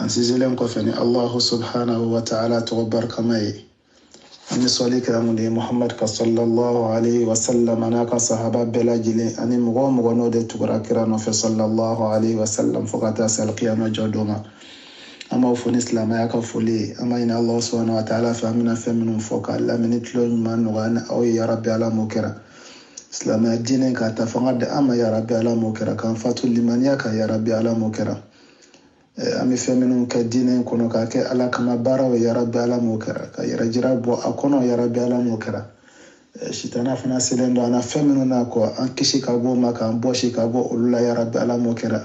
an sinsinlen kɔfɛ ni allahu subhanahu wa ta'ala tɔgɔ barikama ye an bɛ sɔli kɛ mun de ye muhammad kan sallallahu alaihi wa sallam an'a ka sahaba bɛɛ lajɛlen ani mɔgɔ o mɔgɔ n'o de tugura kira nɔfɛ sallallahu alaihi wa sallam fo ka taa se alikiyama jɔ don ma an b'aw fo ni silamɛya ka foli ye an b'a ɲini ala subhanahu wa ta'ala fɛ an bɛna fɛn minnu fɔ k'a lamɛnni tulo ɲuman nɔgɔya an ni aw ye yarabi ala m'o kɛra silamɛya diinɛ k'a ta fanga di an ma yarabi ala m'o kɛra k'an fatu limaniya kan yarabi ala m'o kɛra an bɛ fɛn minnu kɛ diinɛ in kɔnɔ k'a kɛ ala kama baaraw yarabi ala m'o kɛra ka yɛrɛjira bɔ a kɔnɔ yarabi ala m'o kɛra sitana fana selen don an na fɛn minnu na k'an kisi ka bɔ o ma k'an bɔsi ka bɔ olu la yarabi ala m'o kɛra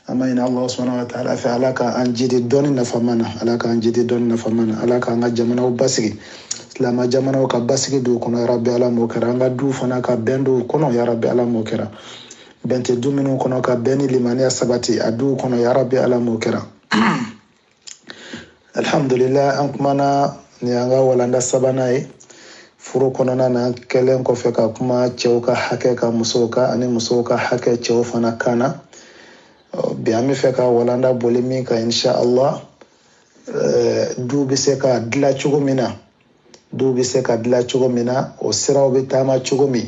an b'a ɲini ala subhanahu wa ta'ala fɛ ala k'an jidi dɔnni nafama na ala k'an jidi dɔnni nafama na ala k'an ka jamanaw basigi silama jamanaw ka basigi don u kɔnɔ yarabi ala m'o kɛra an ka duw fana ka bɛn don u kɔnɔ yarabi ala m'o kɛra bɛn tɛ du minnu kɔnɔ ka bɛn ni limaniya sabati a duw kɔnɔ yarabi ala m'o kɛra alhamdulillah an kumana ni an ka walanda sabanan ye furu kɔnɔna na an kɛlen kɔfɛ ka kuma cɛw ka hakɛ kan musow kan ani musow ka hakɛ cɛw fana kan na bi an bɛ fɛ ka walanda boli min kan insha allah eh, du bɛ se ka dila cogo min na du bɛ se ka dila cogo min na o siraw bɛ taama cogo min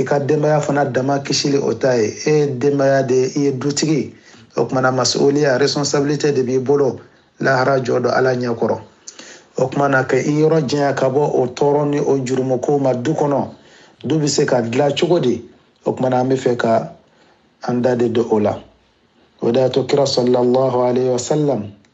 i ka denbaya fana dama kisili o ta ye e ye denbaya de i ye dutigi o kumana masuliya responsabilité de b'i bolo lahara jɔ don ala ɲɛ kɔrɔ o kumana ka i yɔrɔ janya ka bɔ o tɔɔrɔ ni o jurumukow ma du kɔnɔ du bɛ se ka dila cogo di o kumana an bɛ fɛ ka an da de don o la o de y'a to kira sallallahu alayhi wa sallam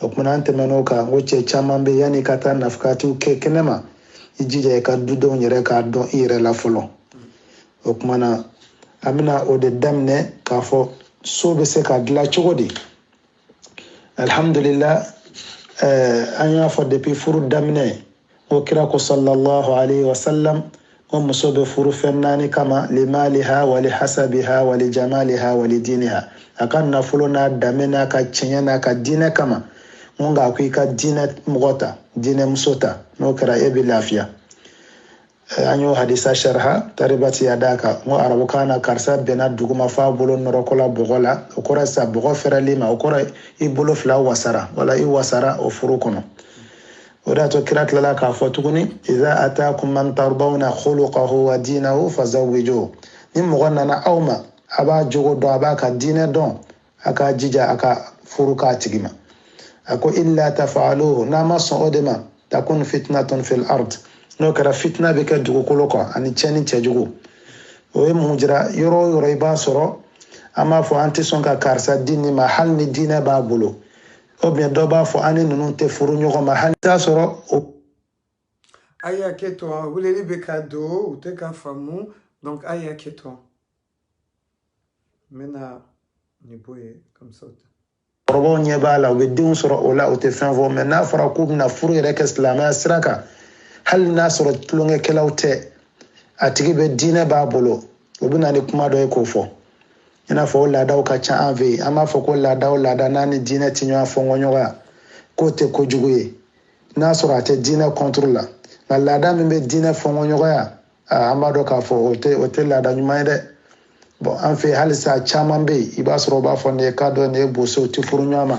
o kumana an tɛmɛn'o kan n ko cɛ caman bɛ yanni i ka taa nafakatiw kɛ kɛnɛ ma i jija i ka dudenw yɛrɛ k'a dɔn i yɛrɛ la fɔlɔ o kumana an bɛna o de daminɛ k'a fɔ so bɛ se ka dilan cogo di alihamudulila eh, an y'a fɔ depi furu daminɛ ko kira ko sallallahu alaihi wasallam ko muso bɛ furu fɛn naani kama limaliha wali hasabiha wali jamaliha wali diniha a ka nafolo n'a danbe n'a ka cɛɲɛ n'a ka diinɛ kama ko nka ko i ka diinɛ mɔgɔ ta diinɛ muso ta n'o kɛra e bɛ lafiya Eh, an y'o hadisa sharha taribat yadaka n ko arabukan na karisa binna duguma f'a bolo nɔrɔkɔla bɔgɔ la o kɔrɔ sa bɔgɔ fɛrɛli ma o kɔrɔ i bolo fila wasara wala i wasara o furu kɔnɔ o de y'a to kira tilala k'a fɔ tuguni iza ataakum man tardawna khuluqahu wa dinahu fazawwijuhu ni mɔgɔ nana aw ma a b'a jogo dɔn a b'a ka diinɛ dɔn a k'a jija a ka furu k'a tigi ma a ko illa tafaluhu n'a ma sɔn o de ma takun fitnatun fil ard n'o kɛra fitina bɛ kɛ dugukolo kan ani cɛnni cɛjugu o ye mun jira yɔrɔ o yɔrɔ i b'a sɔrɔ an b'a fɔ an tɛ sɔn ka karisa di nin ma hali ni diinɛ b'a bolo ou bien dɔ b'a fɔ an ni ninnu tɛ furu ɲɔgɔn ma hali t'a sɔrɔ o a y'a kɛ tɔ weleli bɛ ka don u tɛ ka faamu donc a y'a kɛ tɔ n bɛna nin bɔ yen comme ça o tɛ kɔrɔbaw ɲɛ b'a la u bɛ denw sɔrɔ o la u tɛ fɛn fɔ mɛ n'a fɔra k'u bɛna furu yɛrɛ kɛ silamɛya sira kan hali n'a sɔrɔ tulonkɛkɛlaw tɛ a tigi bɛ diinɛ b'a bolo u bɛ na ni kuma dɔ ye k'o fɔ i n'a fɔ o laadaw ka ca an fɛ yen an b'a fɔ ko laada o laada n'a ni diinɛ tɛ ɲɔgɔn fɔ ɲɔgɔnya k'o tɛ kojugu ye n'a sɔrɔ a tɛ diinɛ contre la nka laada min bɛ diinɛ fɔ ɲɔgɔnya aa an b'a dɔn k'a fɔ o tɛ o tɛ laada ɲuman ye dɛ bɔn an fɛ halisa caman bɛ yen i b'a sɔrɔ u b'a fɔ nin ye kadɔ nin ye boso u tɛ furu ɲɔgɔn ma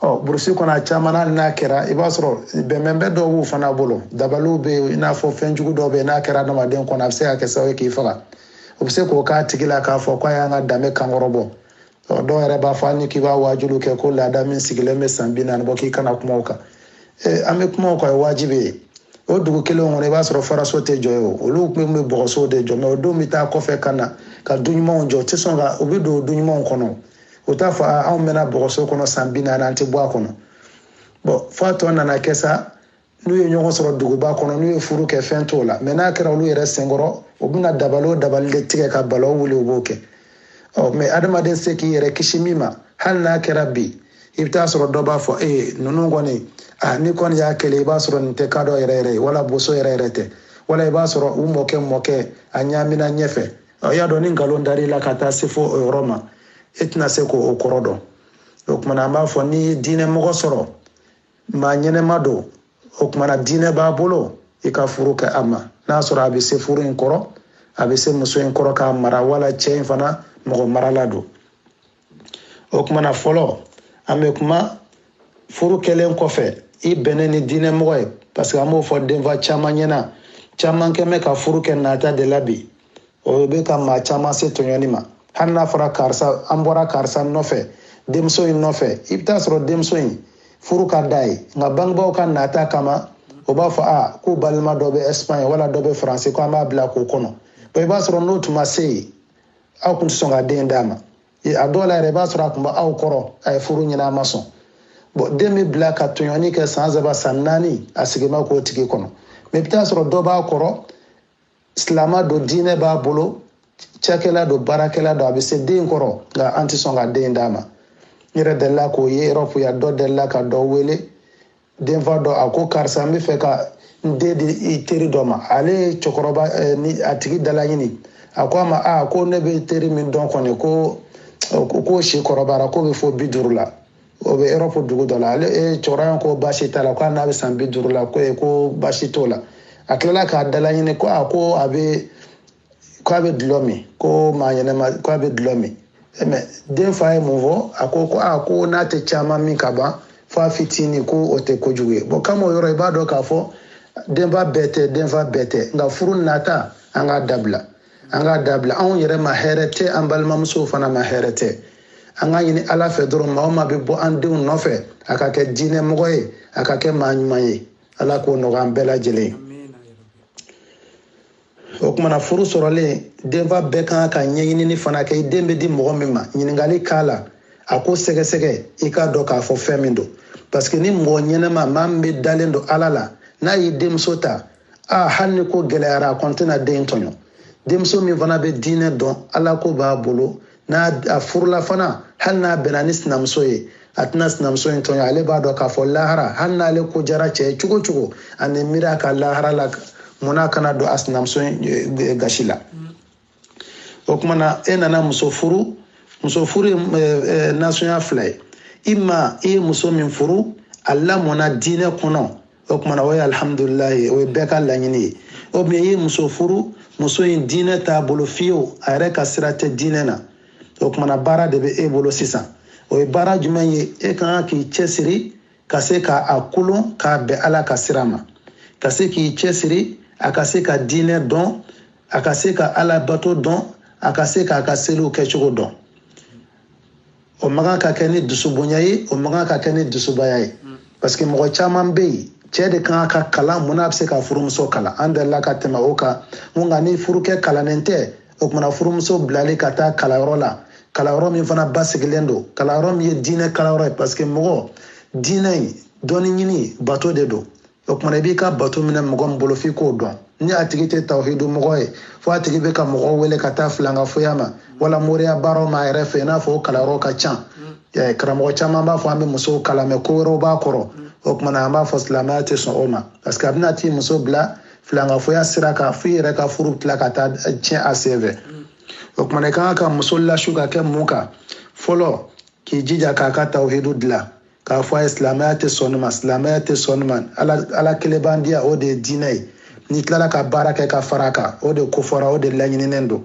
ɔ burusi kɔnɔ a caman hali n'a kɛra i b'a sɔrɔ bɛnbɛnbɛn dɔw b'u fana bolo dabaliw bɛ yen i n'a fɔ fɛn jugu dɔw bɛ yen n'a kɛra adamaden kɔnɔ a bɛ se ka kɛ sababu ye k'i faga o bɛ se k'o k'a tigi la k'a fɔ k'a y'an ka danbe kankɔrɔ bɔ dɔw yɛrɛ b'a fɔ hali ni k'i b'a waajuw kɛ ko laada min sigilen bɛ san bi naani bɔ k'i kana kuma o kan an bɛ kuma o kan o ye wajibi ye o dugu kelen kɔnɔ i b'a sɔrɔ faraso tɛ jɔ yen o olu tun bɛ bɔgɔso de jɔ mɛ u den bɛ taa kɔfɛ ka na ka du ɲumanw jɔ u tɛ sɔn ka u bɛ don du ɲumanw kɔnɔ u t'a fɔ anw mɛnna bɔgɔso kɔnɔ san bi naani an tɛ bɔ a kɔnɔ bɔn fo a tɔ nana kɛ sa n'u ye ɲɔgɔn sɔrɔ duguba kɔnɔ n'u ye furu kɛ fɛn t'o la mɛ n'a kɛra olu yɛrɛ senkɔrɔ u bɛna dabali o dabali de tigɛ ka balaw wuli u b'o kɛ ɔ mɛ adamaden se k'i yɛrɛ kisi min ma hali n'a kɛra bi i bɛ taa sɔrɔ dɔ b'a fɔ ee ninnu kɔni a ni kɔni y'a kɛlɛ i b'a sɔrɔ nin tɛ kadɔ yɛrɛ yɛrɛ ye wala boso yɛrɛ yɛrɛ tɛ wala i b'a sɔrɔ u mɔkɛ mɔkɛ a ɲaamina ɲɛfɛ i y'a dɔn ni nkalon dar'i la ka taa se fo o yɔrɔ ma e tɛna se k'o kɔrɔ dɔn o kumana an b'a fɔ ni diinɛ mɔgɔ sɔrɔ maa ɲɛnama don o kumana diinɛ b'a bolo i ka furu kɛ a ma n'a sɔrɔ a bɛ se furu in kɔrɔ a bɛ se muso in kɔrɔ k'a mara wala cɛ in fana mɔgɔ marala don o kumana fɔlɔ an bɛ kuma furu kɛlen kɔfɛ i bɛnnen ni diinɛ mɔgɔ ye parce que an b'o fɔ denfa caman ɲɛna caman kɛmɛ ka furu kɛ nata de la bi o bɛ ka maa caman se tɔɲɔni ma hali n'a fɔra karisa an bɔra karisa nɔfɛ denmuso in nɔfɛ i bɛ taa sɔrɔ denmuso in furu ka d'a ye nka bangebaaw ka nata kama u b'a fɔ k'u balima dɔ bɛ ɛsipaɲi wala dɔ bɛ faransi ko an b'a bila k'o kɔnɔ i b'a sɔrɔ n'o tun ma se yen aw tun tɛ sɔn ka den d'a ma a dɔw la yɛrɛ i b'a sɔrɔ a tun bɛ aw kɔrɔ a ye furu ɲini a ma sɔn bɔn den bɛ bila ka tɔɲɔni kɛ san saba san naani a sigima k'o tigi kɔnɔ mɛ i bɛ taa sɔrɔ dɔ b'a kɔrɔ silama don diinɛ b'a bolo cakɛla don baarakɛla don a bɛ se den kɔrɔ nka an tɛ sɔn ka den d'a ma n yɛrɛ delila k'o ye Europe yan dɔ delila ka dɔ wele denfa dɔ a ko karisa n bɛ fɛ ka n den di i teri dɔ ma ale ye cɛkɔrɔba eh, ni a tigi dalaɲini a ko a ma a ko ne bɛ teri min dɔn kɔni ko ko si kɔrɔbayara k'o bɛ fo bi duuru la o bɛ Europe dugu dɔ la ale eh, cɛkɔrɔba ko baasi t'a la ko hali n'a bɛ san bi duuru la ko eh, ko baasi t'o la a tilala k'a dalaɲini ko a ko a bɛ ko a bɛ dulɔ min ko maa ɲɛnama ko a bɛ dulɔ min eh, mais denfa ye mun fɔ a ko ko a ko n'a tɛ caman min ka ban f'a fitinin ko o tɛ kojugu ye bon kama o yɔrɔ i b'a dɔn k'a fɔ denfa bɛɛ tɛ denfa bɛɛ tɛ nka furu nata an k'a dabila an k'a dabila anw yɛrɛ ma hɛrɛ tɛ an balimamusow fana ma hɛrɛ tɛ an k'a ɲini ala fɛ dɔrɔn maa o maa bɛ bɔ an denw nɔfɛ a ka kɛ diinɛ mɔgɔ ye a ka kɛ maa ɲuman ye ala k'o nɔgɔya an bɛɛ lajɛlen o kuma na furu sɔrɔlen denfa bɛɛ kan ka ɲɛɲinini fana kɛ i den bɛ di mɔgɔ min ma ɲininkali k'a la a ko sɛgɛsɛgɛ i k'a dɔn k'a fɔ fɛn min don parce que ni mɔgɔ ɲɛnama maa min bɛ dalen don ala la n'a y'i denmuso ta aa hali ni ko gɛlɛyara a kɔni tɛna den in tɔɲɔ denmuso min fana bɛ diinɛ dɔn ala ko b'a bolo n'a a furula fana hali n'a bɛnna ni sinamuso ye a tɛna sinamuso in tɔɲɔ ale b'a dɔn k'a fɔ lahara hali n'ale ko diyara cɛ ye cogo cogo ani miiri a ka lahara la mun n'a kana don a sinamuso in eh, gasi la o kuma na e nana muso furu muso furu ye eh, eh, nasɔnya fila ye i ma i ye muso min furu a lamɔna diinɛ kɔnɔ o kuma na o ye alihamudulilayi o ye bɛɛ ka laɲini ye ou bien i ye muso furu muso in diinɛ t'a bolo fiyewu a yɛrɛ ka sira tɛ diinɛ na o kuma na baara de bɛ e bolo sisan o ye baara jumɛn ye e ka kan k'i cɛsiri ka se ka a kolo k'a bɛn ala ka sira ma ka se k'i cɛsiri a ka se ka diinɛ dɔn a ka se ka ala bato dɔn a ka se k'a ka seliw kɛcogo dɔn o man kan ka kɛ ni dusubonya ye o man kan ka kɛ ni dusubaya ye parce que mɔgɔ caman bɛ yen cɛ de kan ka kalan mun n'a bɛ se ka furumuso kalan an delila ka tɛmɛ o kan nka ni furukɛ kalannen tɛ o kuma na furumuso bilali ka taa kalanyɔrɔ la kalanyɔrɔ min fana basigilen don kalanyɔrɔ min ye diinɛ kalanyɔrɔ ye parce que mɔgɔ diinɛ in dɔnni ɲini bato de don o kuma na i b'i ka bato minɛ mɔgɔ min bolo f'i k'o dɔn ni a tigi tɛ tawhidu mɔgɔ ye fo a tigi bɛ ka mɔgɔ wele ka taa filankafoya ma wala moriya baaraw ma a yɛrɛ fɛ i n'a fɔ o kalanyɔrɔ ka ca mm. karamɔgɔ caman b'a fɔ an bɛ musow kalan mais ko wɛrɛw b'a kɔrɔ mm. o kuma na an b'a fɔ silamɛya tɛ sɔn o ma parce que a bɛna t'i muso bila filankafoya sira kan fo i yɛrɛ ka furu tila ka taa tiɲɛ a senfɛ o kumana i kan ka muso lasu ka kɛ mun kan fɔlɔ k'i jija k'a ka tawhidu dilan k'a fɔ a ye silamɛya tɛ sɔn nin ma silamɛya tɛ sɔn nin ma ala ala kelen b'an diya o de ye diinɛ ye n'i tilala ka baara kɛ ka fara a kan o de kofɔra o de laɲininen don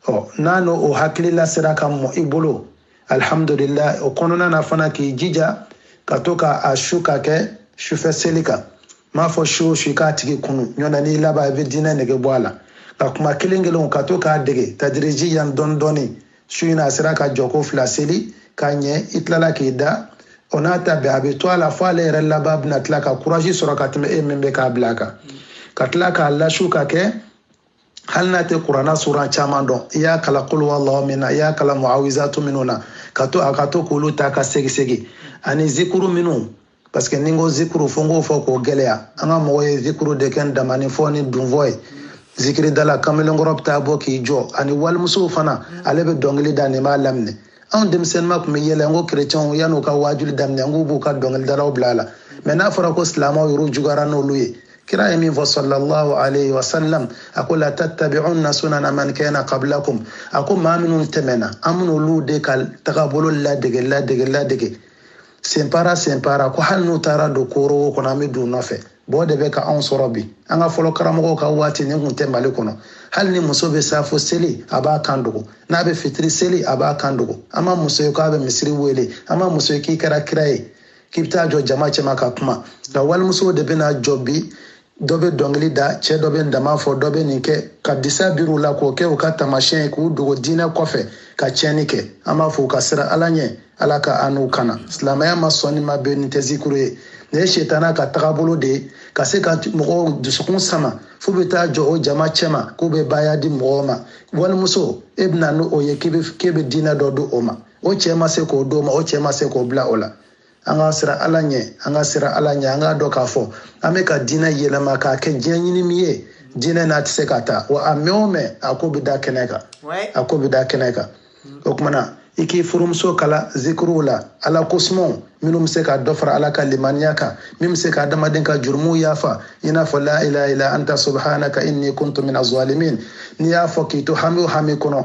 ɔ n'a n'o o hakilila sera ka mɔ i bolo alhamdulillah o kɔnɔna na fana k'i jija ka to ka a su ka kɛ sufɛ seli kan m'a fɔ su o su i k'a tigi kunun ɲɔna n'i laban i bɛ diinɛ nege bɔ a la ka kuma kelen kelenw ka to k'a dege tadirijiyan dɔɔni dɔɔni su in a sera ka jɔko fila seli ka ɲɛ i tilala k'i da o n'a ta bɛn a bɛ to a la fo ale yɛrɛ laban bɛna tila ka courage sɔrɔ ka tɛmɛ e min bɛ k'a bila a kan ka tila k'a lasu ka kɛ hali n'a tɛ kuranna sura caman dɔn i y'a kalan qul huwallahu min na i y'a kalan muawizatu minnu na ka to a ka to k'olu ta ka segisegi ani zikuru minnu parce que ni n ko zikuru fo n k'o fɔ k'o gɛlɛya an ka mɔgɔw ye zikuru de kɛ ntamanin fɔ ni dununfɔ ye zikiridala kamalenkɔrɔ bɛ taa bɔ k'i jɔ ani walimusow fana ale bɛ dɔnkili da nin b'a laminɛ anw denmisɛnninma tun bɛ yɛlɛ n ko kerecɛnw yan'u ka waajuli daminɛ n k'u b'u ka dɔnkilidalaw bila a la mɛ n'a fɔra ko silamaw yɛrɛw juguyara n'olu ye kira ye min fɔ sallallahu alayhi wa sallam a ko la tattabi'unna sunana man kana qablakum a ko maa minnu tɛmɛna an bɛna olu de ka tagabolo ladege ladege ladege senpara senpara ko hali n'u taara don koorowo kɔnɔ an bɛ don u nɔfɛ o de bɛ ka anw sɔrɔ bi an ka fɔlɔ karamɔgɔw ka waati nin kun tɛ mali kɔnɔ hali ni muso bɛ safo seli a b'a kan dogo n'a bɛ fitiri seli a b'a kan dogo an ma muso ye k'a bɛ misiri wele an ma muso ye k'i kɛra kira ye k'i bɛ taa jɔ jama cɛma ka kuma nka walimusow de bɛna jɔ bi dɔ bɛ dɔnkili da cɛ dɔ bɛ ntama fɔ dɔ bɛ nin kɛ ka disa biri u la k'o kɛ u ka taamasiyɛn ye k'u dogo diinɛ kɔfɛ ka tiɲɛni kɛ an b'a fɔ u ka siran ala ɲɛ ala ka an n'u kana silamɛya ma sɔn nin ma bɛn nin tɛ zikuru ye nin ye setana ka tagabolo de ye ka se ka mɔgɔw dusukun sama f'u bɛ taa jɔ o jama cɛma k'u bɛ baaya di mɔgɔw ma walimuso e bɛna n'o ye k'e bɛ diinɛ dɔ di o ma o cɛ ma se k'o d'o ma o cɛ ma se k'o bila o la an ka siran ala ɲɛ an ka siran ala ɲɛ an k'a dɔn k'a fɔ an bɛ ka diinɛ yɛlɛma k'a kɛ diɲɛ ɲini minɛn ye diinɛ n'a tɛ se ka taa wa a mɛn o mɛn a ko bɛ da kɛnɛ kan a ko bɛ da kɛnɛ kan o kumana i k'i furumuso kalan zikiriw la ala kosumaw minnu bɛ se ka dɔ fara ala ka limaniya kan min bɛ se ka adamaden ka jurumuw yafa i n'a fɔ la ilaha illa anta subhanaka inni kuntu mina zalimin n'i y'a fɔ k'i to hami o hami kɔnɔ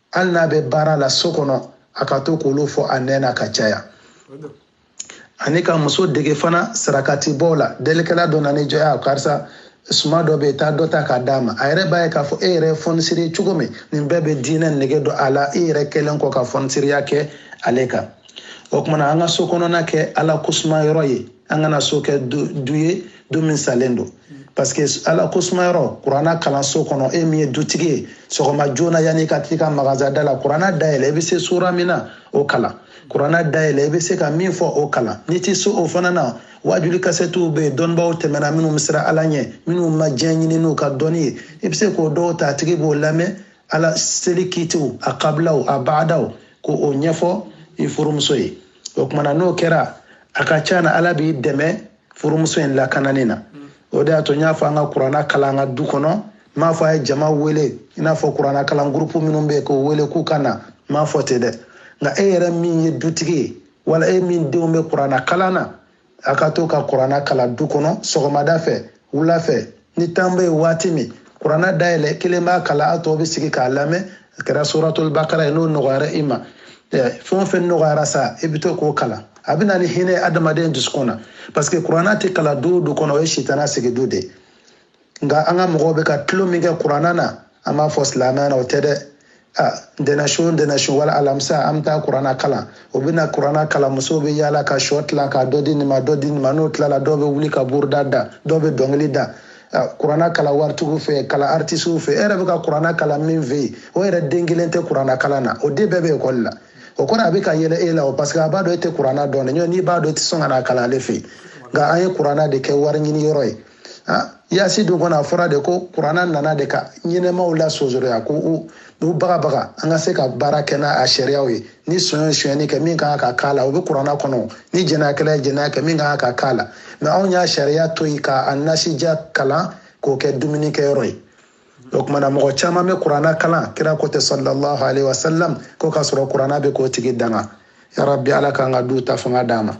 hali n'a bɛ baara la so kɔnɔ a ka to k'olu fɔ a nɛn na ka caya ani ka muso dege fana sarakati bɔ la delikɛla dɔ nana i jɔ a karisa suman dɔ bɛ yen taa dɔ ta k'a d'a ma a yɛrɛ b'a ye k'a fɔ e yɛrɛ ye fɔnisiri cogo min nin bɛɛ bɛ diinɛ nege don a la e yɛrɛ kɛlen kɔ ka fɔnisiriya kɛ ale kan o kumana an ka so kɔnɔna kɛ ala kosuma yɔrɔ ye an kana so kɛ du ye du min salen don parce que ala ko sumayɔrɔ kuranna kalan so kɔnɔ e min ye dutigi ye sɔgɔma joona yanni ka t'i ka magaza da la kuranna dayɛlɛ i bɛ se sura min na o kalan kuranna dayɛlɛ i bɛ se ka min fɔ o kalan n'i tɛ se o fana na wajuli kasɛtiw bɛ yen dɔnnibaw tɛmɛna minnu bɛ siran ala ɲɛ minnu ma diɲɛ ɲini n'u ka dɔnni ye i bɛ se k'o dɔw ta a tigi b'o lamɛn ala seli kitiw a kabilaw a baadaw k'o ɲɛfɔ i furumuso ye o kumana n'o kɛra a ka ca na ala b'i dɛmɛ furumuso in lakanani na o de y'a to n y'a fɔ an ka kuranna kalan an ka du kɔnɔ n m'a fɔ a ye jama wele i n'a fɔ kuranna kalan gurupu minnu bɛ yen k'o wele k'u ka na n m'a fɔ ten dɛ nka e yɛrɛ min ye dutigi ye wala e min denw bɛ kuranna kalan na a ka to ka kuranna kalan du kɔnɔ sɔgɔmada fɛ wula fɛ ni temps bɛ yen waati min kuranna dayɛlɛ kelen b'a kalan a tɔw bɛ sigi k'a lamɛn a kɛra suratul bakara ye n'o nɔgɔyara i ma fɛn o fɛn nɔgɔyara sa i bɛ to k'o kalan a bɛ na ni hinɛ adamaden dusukun na parce que kuranna tɛ kalan du o du kɔnɔ o ye sitana sigi du de ye nka an ka mɔgɔw bɛ ka tulon min kɛ kuranna na an b'a fɔ silamɛya na o tɛ dɛ ntɛnɛn su ntɛnɛn su wala alamisa an bɛ taa kuranna kalan o bɛ na kuranna kalan musow bɛ yaala ka shɔ tila ka dɔ di nin ma dɔ di nin ma n'o tilala dɔw bɛ wuli ka buruda da dɔw bɛ dɔnkili da kuranna kalan waritigiw fɛ kalan aritisiw fɛ e yɛrɛ bɛ ka kuranna kalan min fɛ yen o yɛrɛ den kelen tɛ kuranna kalan na o den bɛɛ bɛ ekɔli la o kɔrɔ a bɛ ka yɛlɛ e la o parce que a b'a dɔn e tɛ kuranna dɔn dɛ n'i b'a dɔn i tɛ sɔn ka n'a kalan ale fɛ yen nka an ye kuranna de kɛ wari ɲini yɔrɔ ye Ah, yasi dun kɔnɔ a fɔra de ko kuranna nana de ka ɲɛnɛmaw la sonsoroya k'u bagabaga an ka se ka baara kɛ n'a sariyaw ye ni son ye sonyɛni kɛ min kan ka k'a la o bɛ kuranna kɔnɔ ni jɛnɛyakɛla ye jɛnɛya kɛ min kan ka k'a la mais anw y'a sariya to yen k'a nasija kalan k'o kɛ dumuni kɛyɔrɔ ye o kumana mɔgɔ caman bɛ kuranna kalan kira ko ten sallallahu alaihi wasallam ko k'a sɔrɔ kuranna bɛ k'o tigi danga yarabi ala k'an ka du ta fanga d'an ma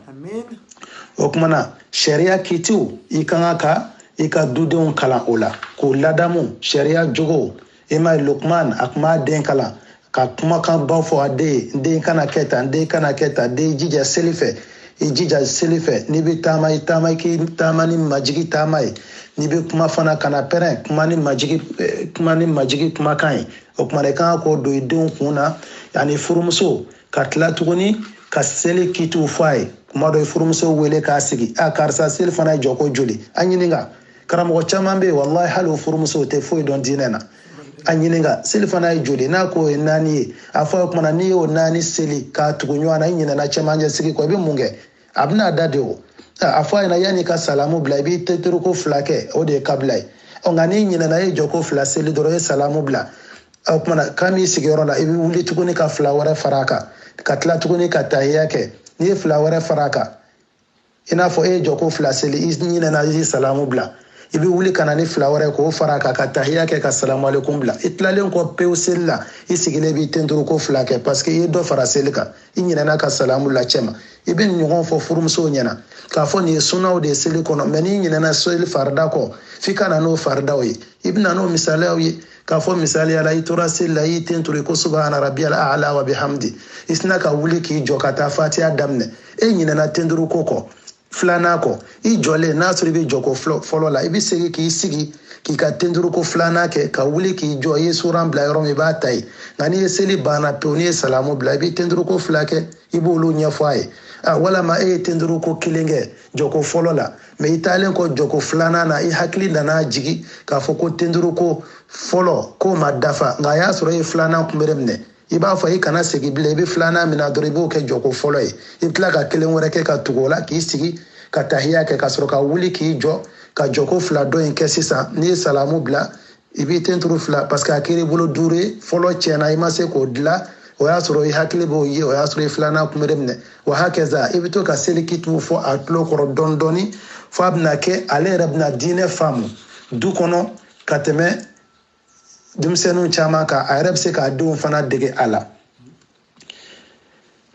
o kumana sariya kitiw i ka kan ka i ka dudenw kalan o la k'u ladamu sariya jogow i m'a ye lukman a tun b'a den kalan ka kumakanbaw fɔ a ye n den kana kɛ tan n den kana kɛ tan den jija seli fɛ i jija seli fɛ n'i bɛ taama i taama i k'i taama ni majigi taama ye n'i bɛ kuma fana kana pɛrɛn kuma ni majigi eh, kuma ni majigi kumakan ye o kumana i kan ka k'o don i denw kun na ani furumuso ka tila tuguni ka seli kitiw fɔ a ye kuma dɔ i furumuso wele k'a sigi a karisa selifana ye jɔko joli a ɲininka karamɔgɔ caman bɛ yen walahi hali o furumusow tɛ foyi dɔn diinɛ na a ɲininka selifana ye joli n'a k'o ye naani ye a fɔ o kumana n'i y'o naani seli k'a tugu ɲɔgɔn na i ɲinɛna cɛmancɛ sigi kɔ i bɛ mun kɛ a bɛna a da de o a fɔ a ɲɛ na yanni ka salamu bila i b'i tenturuko fila kɛ o de ye kabila ye ɔ nka n'i ɲinɛna e jɔko fila seli dɔrɔn e salamu bila o kumana ka b'i sigiyɔrɔ la i bɛ wuli tuguni ka fila wɛrɛ fara a kan ka tila tuguni ka tahiya kɛ n'i ye fila wɛrɛ fara a kan i n'a fɔ e ye jɔko fila seli i ɲinɛna i salamu bila i bɛ wuli ka na ni fila wɛrɛ k'o fara a kan ka tahiya kɛ ka salamu alekun bila i tilalen kɔ pewu seli la i sigilen b'i tenturu ko fila kɛ paseke i ye dɔ fara seli kan i ɲinɛna ka salamu la cɛma i bɛ nin ɲɔgɔn fɔ furumuso ɲɛna k'a fɔ nin ye sunaw de ye seli kɔnɔ mɛ n'i ɲinɛna seli farida kɔ f'i ka na n'o faridaw ye i bɛna n'o misaliyaw ye k'a fɔ misaliya la i tora seli la i y'i tenturu i ko subahana rabiyal ala wa bihamdi i sina ka wuli k'i jɔ ka taa fatiha daminɛ e ɲinɛna tenturu ko kɔ filanan kɔ i jɔlen n'a sɔrɔ i bɛ jɔko fɔlɔ la i bɛ segin k'i sigi k'i ka tenturu ko filanan kɛ ka wuli k'i jɔ i ye suran bila yɔrɔ min i b'a ta ye nka n'i ye seli banna pewu n'i ye salamu bila i bɛ tenturu ko fila kɛ i b'olu ɲɛfɔ a ye walama e ye tenturu ko kelen kɛ jɔko fɔlɔ la mɛ i taalen kɔ jɔko filanan na i hakili nana jigi k'a fɔ ko tenduru ko fɔlɔ k'o ma dafa nka a y'a sɔrɔ i ye filanan kunbere minɛ i b'a fɔ i kana segi bilen i bɛ filanan min na dɔrɔn i b'o kɛ jɔko fɔlɔ ye i bɛ tila ka kelen wɛrɛ kɛ ka tugu o la k'i sigi ka tahiya kɛ ka sɔrɔ ka wuli k'i jɔ ka jɔko fila dɔ in kɛ sisan n'i ye salamu bila i b'i tenturu fila parce que a kɛra i bolo duuru ye fɔlɔ tiɲɛna i ma se k'o dilan o y'a sɔrɔ i hakili b'o ye o y'a sɔrɔ i ye filanan kunbere minɛ wa hakaza i bɛ to ka seli kitiw fɔ a tulo kɔrɔ dɔɔni dɔɔni fo a bɛna kɛ ale yɛrɛ bɛna diinɛ faamu du kɔnɔ ka tɛmɛ denmisɛnninw caman kan a yɛrɛ bɛ se k'a denw fana dege a la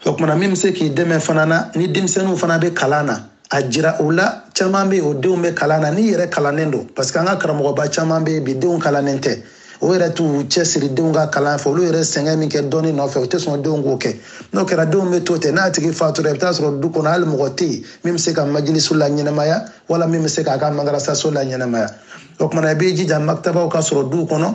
o tumana min bɛ se k'i dɛmɛ fana na ni denmisɛnninw fana bɛ kalan na a jira u la caman bɛ yen u denw bɛ kalan na n'i yɛrɛ kalannen don parce que an ka karamɔgɔba caman bɛ yen bi denw kalannen tɛ u yɛrɛ t'u cɛsiri denw ka kalan fɛ olu yɛrɛ sɛgɛn min kɛ dɔnni nɔfɛ u tɛ sɔn denw k'o kɛ n'o kɛra denw bɛ to ten n'a tigi fatura i bɛ taa a sɔrɔ du kɔnɔ hali mɔgɔ tɛ yen min bɛ se ka majilisu la ɲɛnamaya wala min bɛ se k'a ka madarasaso la ɲɛnamaya o tumana i b'i jija makitabaw ka sɔrɔ duw kɔnɔ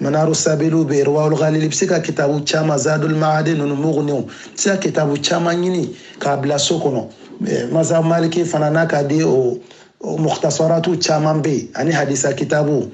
manaru sabilu bɛ yen irwaul ghalil i bɛ se ka kitabu caman zadul maad ninnu muguniw i bɛ se ka kitabu caman ɲini k'a bila so kɔnɔ mazhabu maliki fana n'a ka di o mukhtasaratu caman bɛ yen ani hadisa kitabu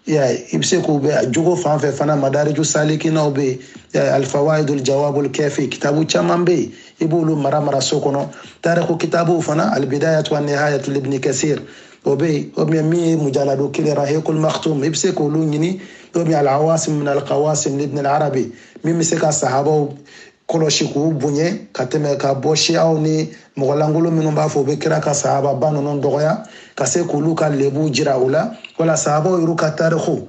ya i bɛ se k'u bɛ jogo fan fɛ fana madariju salikinaw bɛ yen alfawaidul jawabul kafi kitabu caman bɛ yen i b'olu mara mara so kɔnɔ tariku kitabu fana albidayatu wa nihayatu libni kasir o bɛ yen o bɛ min ye mujaladu kelen rahikul maktum i bɛ se k'olu ɲini o bɛ alawasim min alkawasim libn alarabi min bɛ se ka sahabaw kɔlɔsi k'u bonya ka tɛmɛ ka bɔ siyaw ni mɔgɔ lankolon minnu b'a fɔ u bɛ kira ka sahababa ninnu dɔgɔya ka se k'olu ka lebu jira u la wala sahabaw yɛrɛ ka tarikuw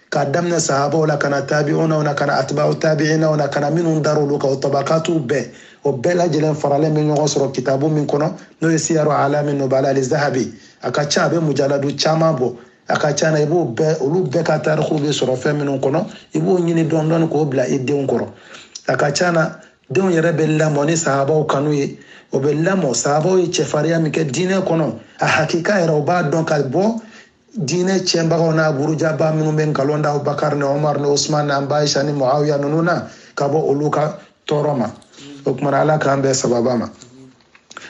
k'a daminɛ sahabaw la ka na tabi'unaw na ka na atba'u tabi'inaw na ka na minnu dar'olu kan o tabakatuw bɛɛ o bɛɛ lajɛlen faralen bɛ ɲɔgɔn sɔrɔ kitabu min kɔnɔ n'o ye siyaru alami nubala al-zahabi a ka ca a bɛ mujaladu caman bɔ a ka ca na i b'o bɛɛ olu bɛɛ ka tarikuw bɛ sɔrɔ fɛn minnu kɔnɔ i b'o ɲini dɔɔni dɔɔni k'o bila i denw kɔrɔ a ka ca na denw yɛrɛ bɛ lamɔ ni sahabaw kanu ye o bɛ lamɔ sahabaw ye cɛfarinya min kɛ diinɛ kɔnɔ a hakika yɛrɛ o b'a dɔn ka bɔ diinɛ tiɲɛbagaw n'a burujaba minnu bɛ nkalon da bakari ni omar ni osman ni an ba aisa ni muawiya ninnu na ka bɔ olu ka tɔɔrɔ ma o tuma na ala k'an bɛɛ sababa ma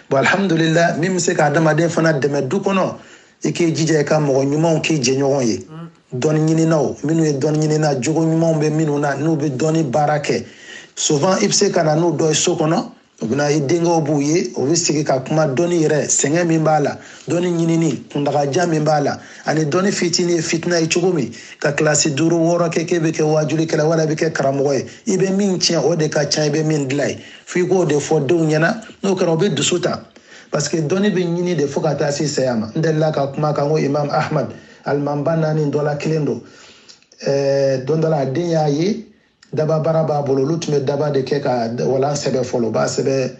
bon alhamdulillah min bɛ se ka adamaden fana dɛmɛ du kɔnɔ i k'i jija i ka mɔgɔ ɲumanw k'i jɛɲɔgɔn ye dɔnni ɲininaw minnu ye dɔnni ɲinina jogo ɲumanw bɛ minnu na n'u bɛ dɔnni baara kɛ souvent i bɛ se ka na n'u dɔ ye so kɔnɔ u bɛ na i denkɛw b'u ye u bɛ sigi ka kuma dɔnni yɛrɛ sɛgɛn min b'a la dɔnni ɲinini kuntagajan min b'a la ani dɔnni fitinin ye fitina ye cogo min ka kilasi duuru wɔɔrɔ kɛ k'e bɛ kɛ waajulikɛla wala i bɛ kɛ karamɔgɔ ye i bɛ min tiɲɛ o de ka ca i bɛ min dilan ye f'i k'o de fɔ denw ɲɛna n'o kɛra o bɛ dusu ta parce que dɔnni bɛ ɲini de fo ka taa se saya ma n delila ka kuma kan ko imam ahmad alimamiba naani dɔ la kelen don ɛɛ don dɔ la a den y'a ye dababara b'a bolo olu tun bɛ daba de kɛ ka walan sɛbɛ fɔlɔ u b'a sɛbɛ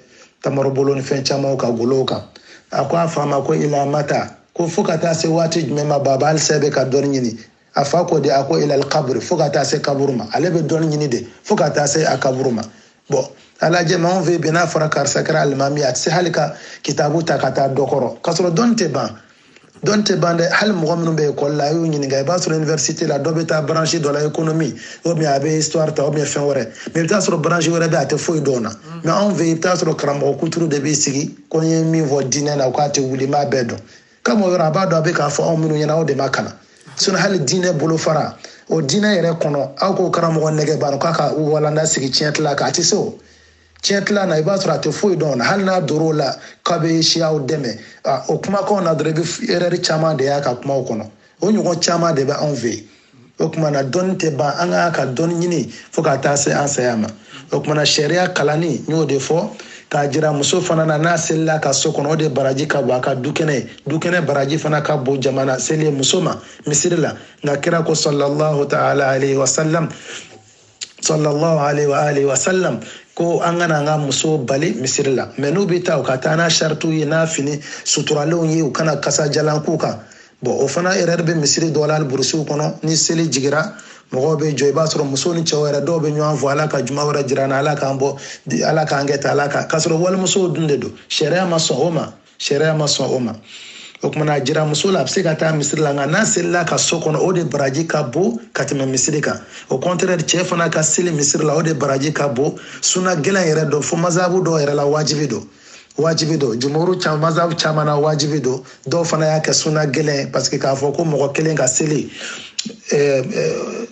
tamarobolo ni fɛn camanw ka golow kan a ko a fa ma ko ila mata ko fo ka taa se waati jumɛn ma baba halisa e bɛ ka dɔnni ɲini a fa ko de a ko ilal kaburi fo ka taa se kaburu ma ale bɛ dɔnni ɲini de fo ka taa se a kaburu ma bɔn a lajɛ maa anw fɛ bi n'a fɔra karisa kɛra alimami a tɛ se hali ka kitabu ta ka taa dɔ kɔrɔ k'a sɔrɔ dɔnni tɛ ban dɔnni tɛ ban dɛ hali mɔgɔ minnu bɛ ekɔli la a y'u ɲininka i b'a sɔrɔ université la dɔ bɛ taa branche dɔ la économie ou bien a bɛ histoire ta ou bien fɛn wɛrɛ mais i bɛ taa sɔrɔ branche wɛrɛ bɛ a tɛ foyi dɔn na mm. mais anw fɛ i bɛ taa sɔrɔ karamɔgɔ kuturu de b'i sigi ko n ye min fɔ diinɛ la k'a tɛ wuli n b'a bɛɛ dɔn comme o yɔrɔ a b'a dɔn a bɛ k'a fɔ anw minnu ɲɛna aw de ma kalan sinon hali diinɛ bolofara o diinɛ yɛrɛ kɔnɔ aw k'o karamɔgɔ nege b'a la k'a ka walanda sigi tiɲɛ tila kan a tɛ se o tiɲɛ tila na i b'a sɔrɔ a tɛ foyi dɔn o la hali n'a dor'o la k'a bɛ siyaw dɛmɛ o kumakanw na dɔrɔn i bɛ erreur caman de y'a ka kumaw kɔnɔ o ɲɔgɔn caman de bɛ anw fɛ yen o tuma na dɔnni tɛ ban an ka ka dɔnni ɲini fo ka taa se an saya ma o tuma na sariya kalanni n y'o de fɔ k'a jira muso fana na n'a selila a ka so kɔnɔ o de baraji ka bon a ka dukɛnɛ ye dukɛnɛ baraji fana ka bon jama na seli muso ma misiri la nka kira ko sallallahu ta'ala alaihi wa sallam sallallahu alaihi wa alihi wa sallam ko an kana an ka muso bali misiri la mais n'u bɛ taa u ka taa n'a saritiw ye n'a fini suturalenw ye u kana kasadiyalan k'u kan bɔn o fana yɛrɛ bɛ misiri dɔw la hali burusiw kɔnɔ ni seli jigira mɔgɔw bɛ jɔ i b'a sɔrɔ muso ni cɛw yɛrɛ dɔw bɛ ɲɔgɔn fo ala ka juma wɛrɛ jira an na ala k'an bɔ ala k'an kɛ tan ala kan k'a sɔrɔ walimusow dun de don sariya ma sɔn o ma sariya ma sɔn o ma o kumana a jira muso la a bɛ se ka taa misiri la nka n'a selila ka so kɔnɔ o de baraji ka bon ka tɛmɛ misiri kan o contraire cɛ fana ka seli misiri la o de baraji ka bon suna gɛlɛn yɛrɛ don fo mazabu dɔw yɛrɛ la wajibi don wajibi don jumhuru caman mazabu caman na wajibi don dɔw fana y'a kɛ suna gɛlɛn parce que k'a fɔ ko mɔgɔ kelen ka seli eh, eh,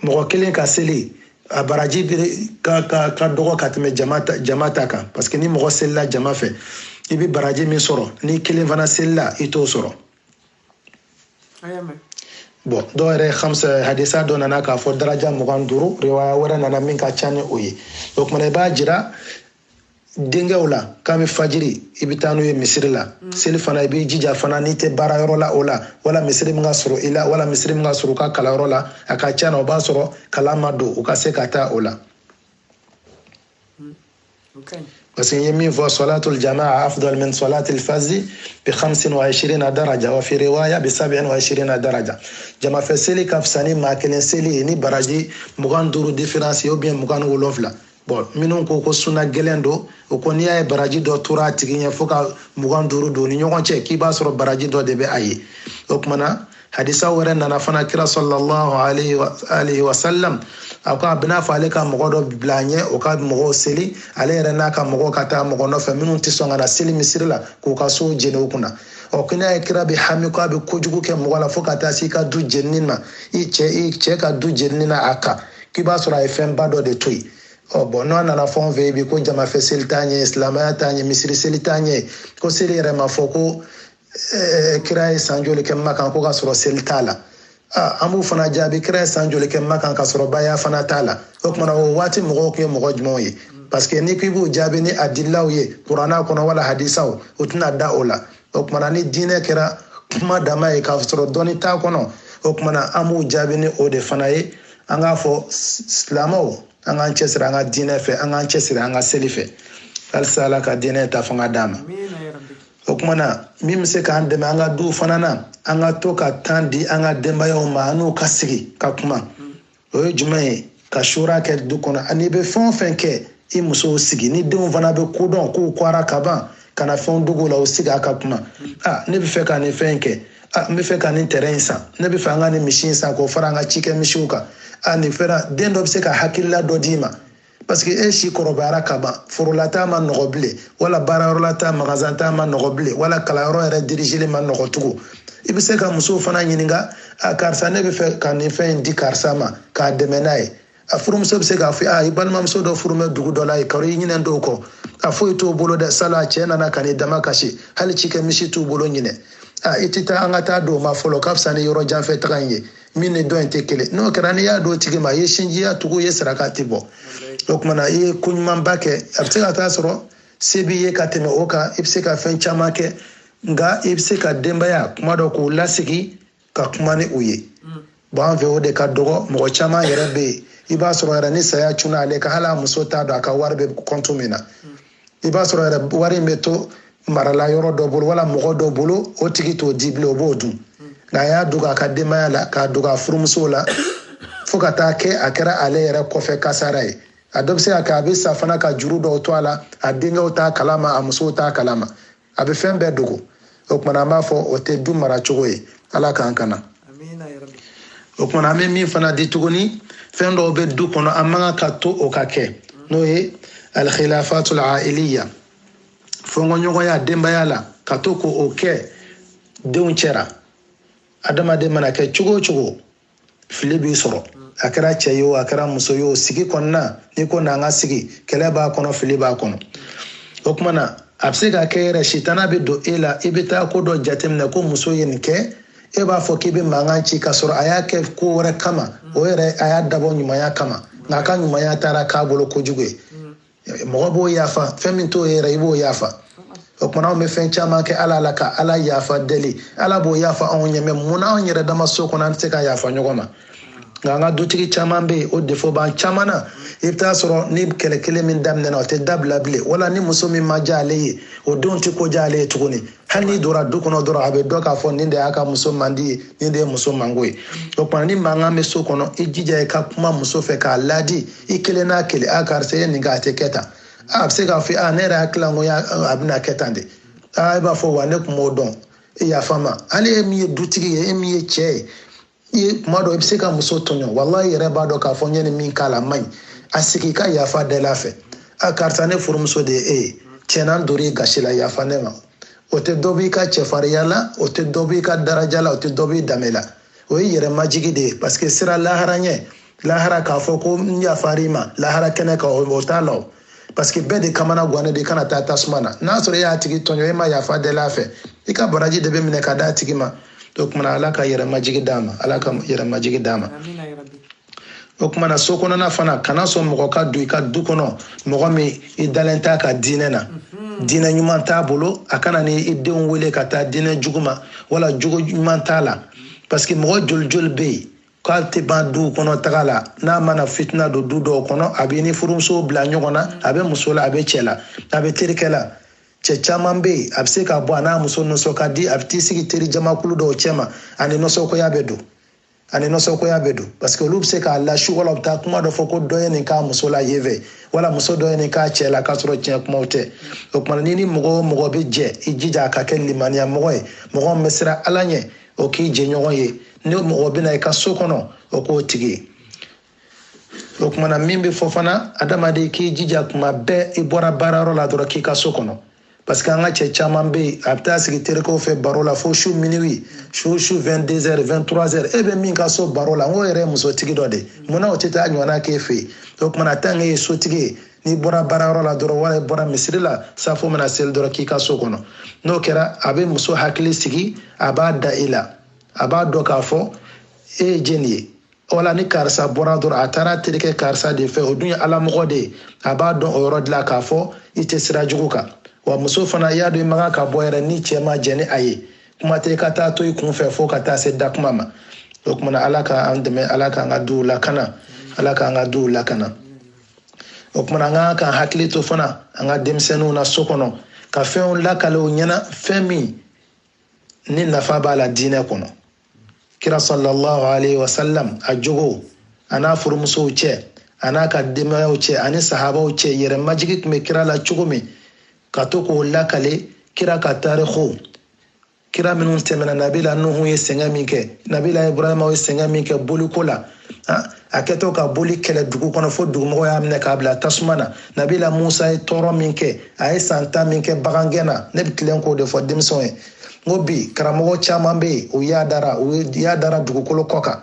mɔgɔ kelen ka seli a baraji ka ka ka dɔgɔ ka tɛmɛ jama ta jama ta kan parce que ni mɔgɔ selila jama fɛ i bɛ baraji min sɔrɔ n'i kelen fana selila i t'o sɔrɔ bɔn dɔw yɛrɛ hamsa hadisa dɔ nana k'a fɔ daraja mugan duuru riwaya wɛrɛ nana min ka ca ni o ye o kumana i b'a jira denkɛw la kabi fajiri i bɛ taa n'u ye misiri la mm. seli fana i b'i jija fana n'i tɛ baara yɔrɔ la o la wala misiri min ka surun i la wala misiri min ka surun u ka kalanyɔrɔ la a ka ca na o b'a sɔrɔ kalan ma don u ka se ka taa o la mm. parce que n ye min fɔ solatul jamaa afdal min solatil fazi bi hamsin wa ishirina daraja wa fi riwaya bi sabin wa ishirina daraja jamafɛ seli ka fisa ni maa kelen seli ye ni baraji mugan duuru différence ou bien mugan ni wolonfila bɔn minnu ko ko suna gɛlɛn don o ko n'i y'a ye baraji dɔ tora a tigi ɲɛ fo ka mugan duuru don u ni ɲɔgɔn cɛ k'i b'a sɔrɔ baraji dɔ de bɛ a ye o kumana hadisa wɛrɛ nana fana kira sɔlallahu alayhi wa sallam a ko a bɛna fɔ ale ka mɔgɔ dɔ bila a ɲɛ o ka mɔgɔw seli ale yɛrɛ n'a ka mɔgɔw ka taa mɔgɔ nɔfɛ minnu tɛ sɔn ka na seli misiri la k'u ka sow jeni u kunna ɔ ko n'a ye kira bɛ hami ko a bɛ kojugu kɛ mɔgɔ la fo ka taa se i ka du jenini ma i cɛ i cɛ ka du jenini na a kan k'i b'a sɔrɔ a ye fɛnba dɔ de to yen ɔ bɔn n'u nana fɛn fɔ bi ko jamafɛ seli t'an ye silamɛya t'an ye misiri seli t'an ye ko seli yɛrɛ ma fɔ ko eh, kira ye san joli kɛ makan ko ka sɔrɔ seli t'a la ah, an b'u fana jaabi kira ye san joli kɛ makan ka sɔrɔ baya fana t'a la o kumana o waati mɔgɔw tun ye mɔgɔ jumɛnw ye parce que n'i ko i b'u jaabi ni adilaw ye kuranna kɔnɔ wala hadisaw o tɛna da o la o kumana ni diinɛ kɛra kuma dama ye k'a sɔrɔ dɔnni t'a kɔnɔ o kumana an b'u jaabi ni o de fana ye an k'a fɔ silamɛw an k'an cɛsiri an ka diinɛ fɛ an k'an cɛsiri an ka seli fɛ walisa ala ka diinɛ ta fanga d'a ma o kuma na min bɛ se k'an dɛmɛ an ka duw fana na an ka to ka temps di an ka denbayaw ma an n'u ka sigi ka kuma o ye jumɛn ye ka shura kɛ du kɔnɔ a n'i bɛ fɛn o fɛn kɛ i musow sigi ni denw fana bɛ ko dɔn k'u kwara ka ban kana fɛnw dogo u la u sigi a ka kuma a ne bɛ fɛ ka nin fɛn kɛ a n bɛ fɛ ka nin tɛrɛn in san ne bɛ fɛ an ka nin misi in san k'o fara an ka cikɛ misiw kan a nin fɛra den dɔ bɛ se ka hakilila dɔ d'i ma parce que e si kɔrɔbayara ka ban foro la taa ma nɔgɔ bilen wala baarayɔrɔ la taa magazan taa ma nɔgɔ bilen wala kalanyɔrɔ yɛrɛ dirigeli ma nɔgɔ tugun i bɛ se ka musow fana ɲininka a karisa ne b'a fɛ ka nin fɛn in di karisa ma k'a dɛmɛ n'a ye a furumuso bɛ se k'a fɔ a i balimamuso dɔ furu bɛ dugu dɔ la yen karo i ɲinɛ dɔw kɔ a foyi t'o bolo dɛ sala a cɛ nana ka n'i damakasi hali cikɛ misi t'u bolo ɲinan a i tɛ taa an ka taa don o ma fɔlɔ ka fisa ni yɔrɔ jan fɛ taga in ye min ni dɔ in tɛ kelen n'o kɛra n'i y'a don o tigi ma i ye sinjiya tugu i ye saraka de bɔ o kumana i ye ko ɲumanba kɛ a bɛ se ka taa sɔrɔ se b'i ye ka tɛmɛ o kan i bɛ se ka fɛn caman kɛ nka i bɛ se ka denbaya kuma dɔ k'u lasigi ka kuma ni u ye bon an fɛ o de ka dɔgɔ mɔgɔ caman yɛrɛ bɛ yen i b'a sɔrɔ yɛrɛ ni saya cunna ale kan hali a muso t'a dɔn a ka wari bɛ compte min na i b'a sɔrɔ yɛrɛ wari in bɛ to marala yɔrɔ dɔ bolo wala mɔgɔ dɔ bolo o tigi t'o di bilen o b'o dun nka a y'a dogo a ka denbaya la k'a dogo a furumusow la fo ka taa kɛ a kɛra ale yɛrɛ kɔfɛ kasara ye a dɔ bɛ se ka kɛ a bɛ sa fana ka juru dɔw to a la a denkɛw t'a kalama a musow t'a kalama a bɛ fɛn bɛɛ dogo o kumana an b'a fɔ o tɛ du mara cogo ye ala k'an kana o kumana an bɛ min fana di tuguni fɛn dɔw bɛ du kɔnɔ an man kan k'a to o ka kɛ n'o ye alkhilafatul ailiya fɔnkɔɲɔgɔnya denbaya la ka to k'o kɛ denw cɛra adamaden mana kɛ cogo o cogo fili b'i sɔrɔ a kɛra cɛ ye o a kɛra muso ye o sigi kɔnɔna n'i ko n'an ka sigi kɛlɛ b'a kɔnɔ fili b'a kɔnɔ o kumana a bɛ se ka kɛ yɛrɛ sitana bɛ don e la i bɛ taa ko dɔ jateminɛ ko muso ye nin kɛ e b'a fɔ k'i bɛ mankan ci k'a sɔrɔ a y'a kɛ ko wɛrɛ kama o yɛrɛ a y'a dabɔ ɲumanya kama nka a ka ɲumanya taara k'a bolo kojugu ye mɔgɔ b'o yafa fɛn min t'o ye yɛrɛ i b'o yafa o kumana anw bɛ fɛn caman kɛ ala la ka ala yafa deli ala b'o yafa anw ɲɛ mais mun na anw yɛrɛ dama so kɔnɔ an tɛ se ka yafa ɲɔgɔn ma nka an ka dutigi caman bɛ yen o défaut b'an caman na i bɛ taa sɔrɔ ni kɛlɛ kelen min daminɛna o tɛ dabila bilen wala ni muso min ma diya ale ye o denw tɛ ko diya ale ye tuguni hali n'i donna du kɔnɔ dɔrɔn a bɛ dɔn k'a fɔ nin de y'a ka muso mandi ye nin de ye muso mango ye o kumana ni mankan bɛ so kɔnɔ i jija i ka kuma muso fɛ k'a laadi i kelen n'a kelen a karisa ye nin kɛ a tɛ kɛ tan a bɛ se k'a fɔ a ne yɛrɛ hakili la ko a bɛna kɛ tan de a e b'a fɔ wa ne tun m'a dɔn e yafa n ma hali e min ye dutigi ye e min ye cɛ ye i ye kuma dɔ i bɛ se ka muso tɔɲɔ wala i yɛrɛ b'a dɔn k'a fɔ n ye nin min k'a la man ɲi a sigi ka yafa del'a fɛ a karisa ne furumuso de ye e ye tiɲɛ na n dor'i gasi la yafa ne ma o tɛ dɔ b'i ka cɛfarinya la o tɛ dɔ b'i ka daraja la o tɛ dɔ b'i danbe la o ye yɛrɛ majigin de ye parce que sini lahara ɲɛ lahara k'a fɔ ko n yafar'i ma lahara kɛnɛ kan o t'a la o parce que bɛɛ de kamana guwanen de i kana taa tasuma na n'a sɔrɔ e y'a tigi tɔɲɔ e ma yafa deli a fɛ i ka baraji de bɛ minɛ ka d'a tigi ma o kumana ala ka yɛrɛmajigi d'a ma ala ka yɛrɛmajigi d'a ma o kumana so kɔnɔna fana kana sɔn mɔgɔ ka don i ka du kɔnɔ mɔgɔ min i dalen t'a ka diinɛ na mhm. diinɛ ɲuman t'a bolo a kana ni i denw wele ka taa diinɛ jugu ma wala jogo ɲuman t'a la parce que mɔgɔ joli joli bɛ yen k'ale tɛ ban duw kɔnɔ taga la n'a mana fitina don du dɔw kɔnɔ a b'e ni furumuso bila ɲɔgɔn na a bɛ muso la a bɛ cɛ la a bɛ terikɛ la cɛ caman bɛ yen a bɛ se ka bɔ a n'a muso nisɔn ka di a bɛ t'i sigi teri jamakulu dɔw cɛma a ni nisɔngoya bɛ don a ni nisɔngoya bɛ don parce que olu bɛ se k'a lasu wala u bɛ taa kuma dɔ fɔ ko dɔ ye nin k'a muso la yen fɛ wala muso dɔ ye nin k'a cɛ la k'a sɔrɔ tiɲɛ kumaw tɛ o tuma n'i ni mɔgɔ o mɔgɔ bɛ jɛ i jija a ka kɛ limaniya mɔgɔ ye mɔgɔ min bɛ siran ala ɲɛ o k'i jɛɲɔgɔn ye ni mɔgɔ bɛ na i ka so kɔnɔ o k'o tigi ye o kumana min bɛ fɔ fana adamaden k'i jija kuma bɛɛ i bɔra baarayɔrɔ la dɔrɔn k'i ka so kɔnɔ parce que an ka cɛ caman bɛ yen a bɛ taa sigi terikɛw fɛ baro la fo su minuit su su 22 heures 23 heures e bɛ min ka so baro la n k'o yɛrɛ ye musotigi dɔ de ye munna o tɛ taa ɲɔgɔnna k'e fɛ yen o kumana tant que e ye sotigi ye n'i bɔra baarayɔrɔ la dɔrɔn wala i bɔra misiri la safo mana seli dɔrɔn k'i ka so kɔnɔ n'o kɛra a bɛ muso hakili sigi a b'a da i la a b'a dɔn k'a fɔ e ye jeni ye wala ni karisa bɔra dɔrɔn a taara terikɛ karisa de fɛ o dun ye ala mɔgɔ de ye a b'a dɔn o yɔrɔ de la k'a fɔ i tɛ sira jugu kan wa muso fana y'a dɔn i man kan ka bɔ yɛrɛ ni cɛ ma jɛn ni a ye kuma tɛ i ka taa to i kun fɛ fo ka taa se da kuma ma o kumana ala k'an dɛmɛ ala k'an ka duw lakana ala k'an ka duw lakana o kumana an k'an hakili to fana an ka denmisɛnninw na so kɔnɔ ka fɛnw lakale u ɲɛna fɛn min ni nafa b'a la diinɛ kɔnɔ kira sallallahu alaihi wasallam a jogo a n'a furumusow cɛ a n'a ka denbayaw cɛ ani sahabaw cɛ yɛrɛmajigi tun bɛ kira la cogo min ka to k'o lakale kira ka tariko kira minnu tɛmɛna nabila nuhu ye sɛgɛn min kɛ nabila ibrahima ye sɛgɛn min kɛ boliko la a kɛtɔ ka boli kɛlɛ dugu kɔnɔ fo dugumɔgɔw y'a minɛ k'a bila tasuma na nabila musa ye tɔɔrɔ min kɛ a ye san tan min kɛ bagangɛn na ne bɛ tilen k'o de fɔ denmisɛnw ye n ko bi karamɔgɔ caman bɛ yen u yaadara u yaadara dugukolo kɔ kan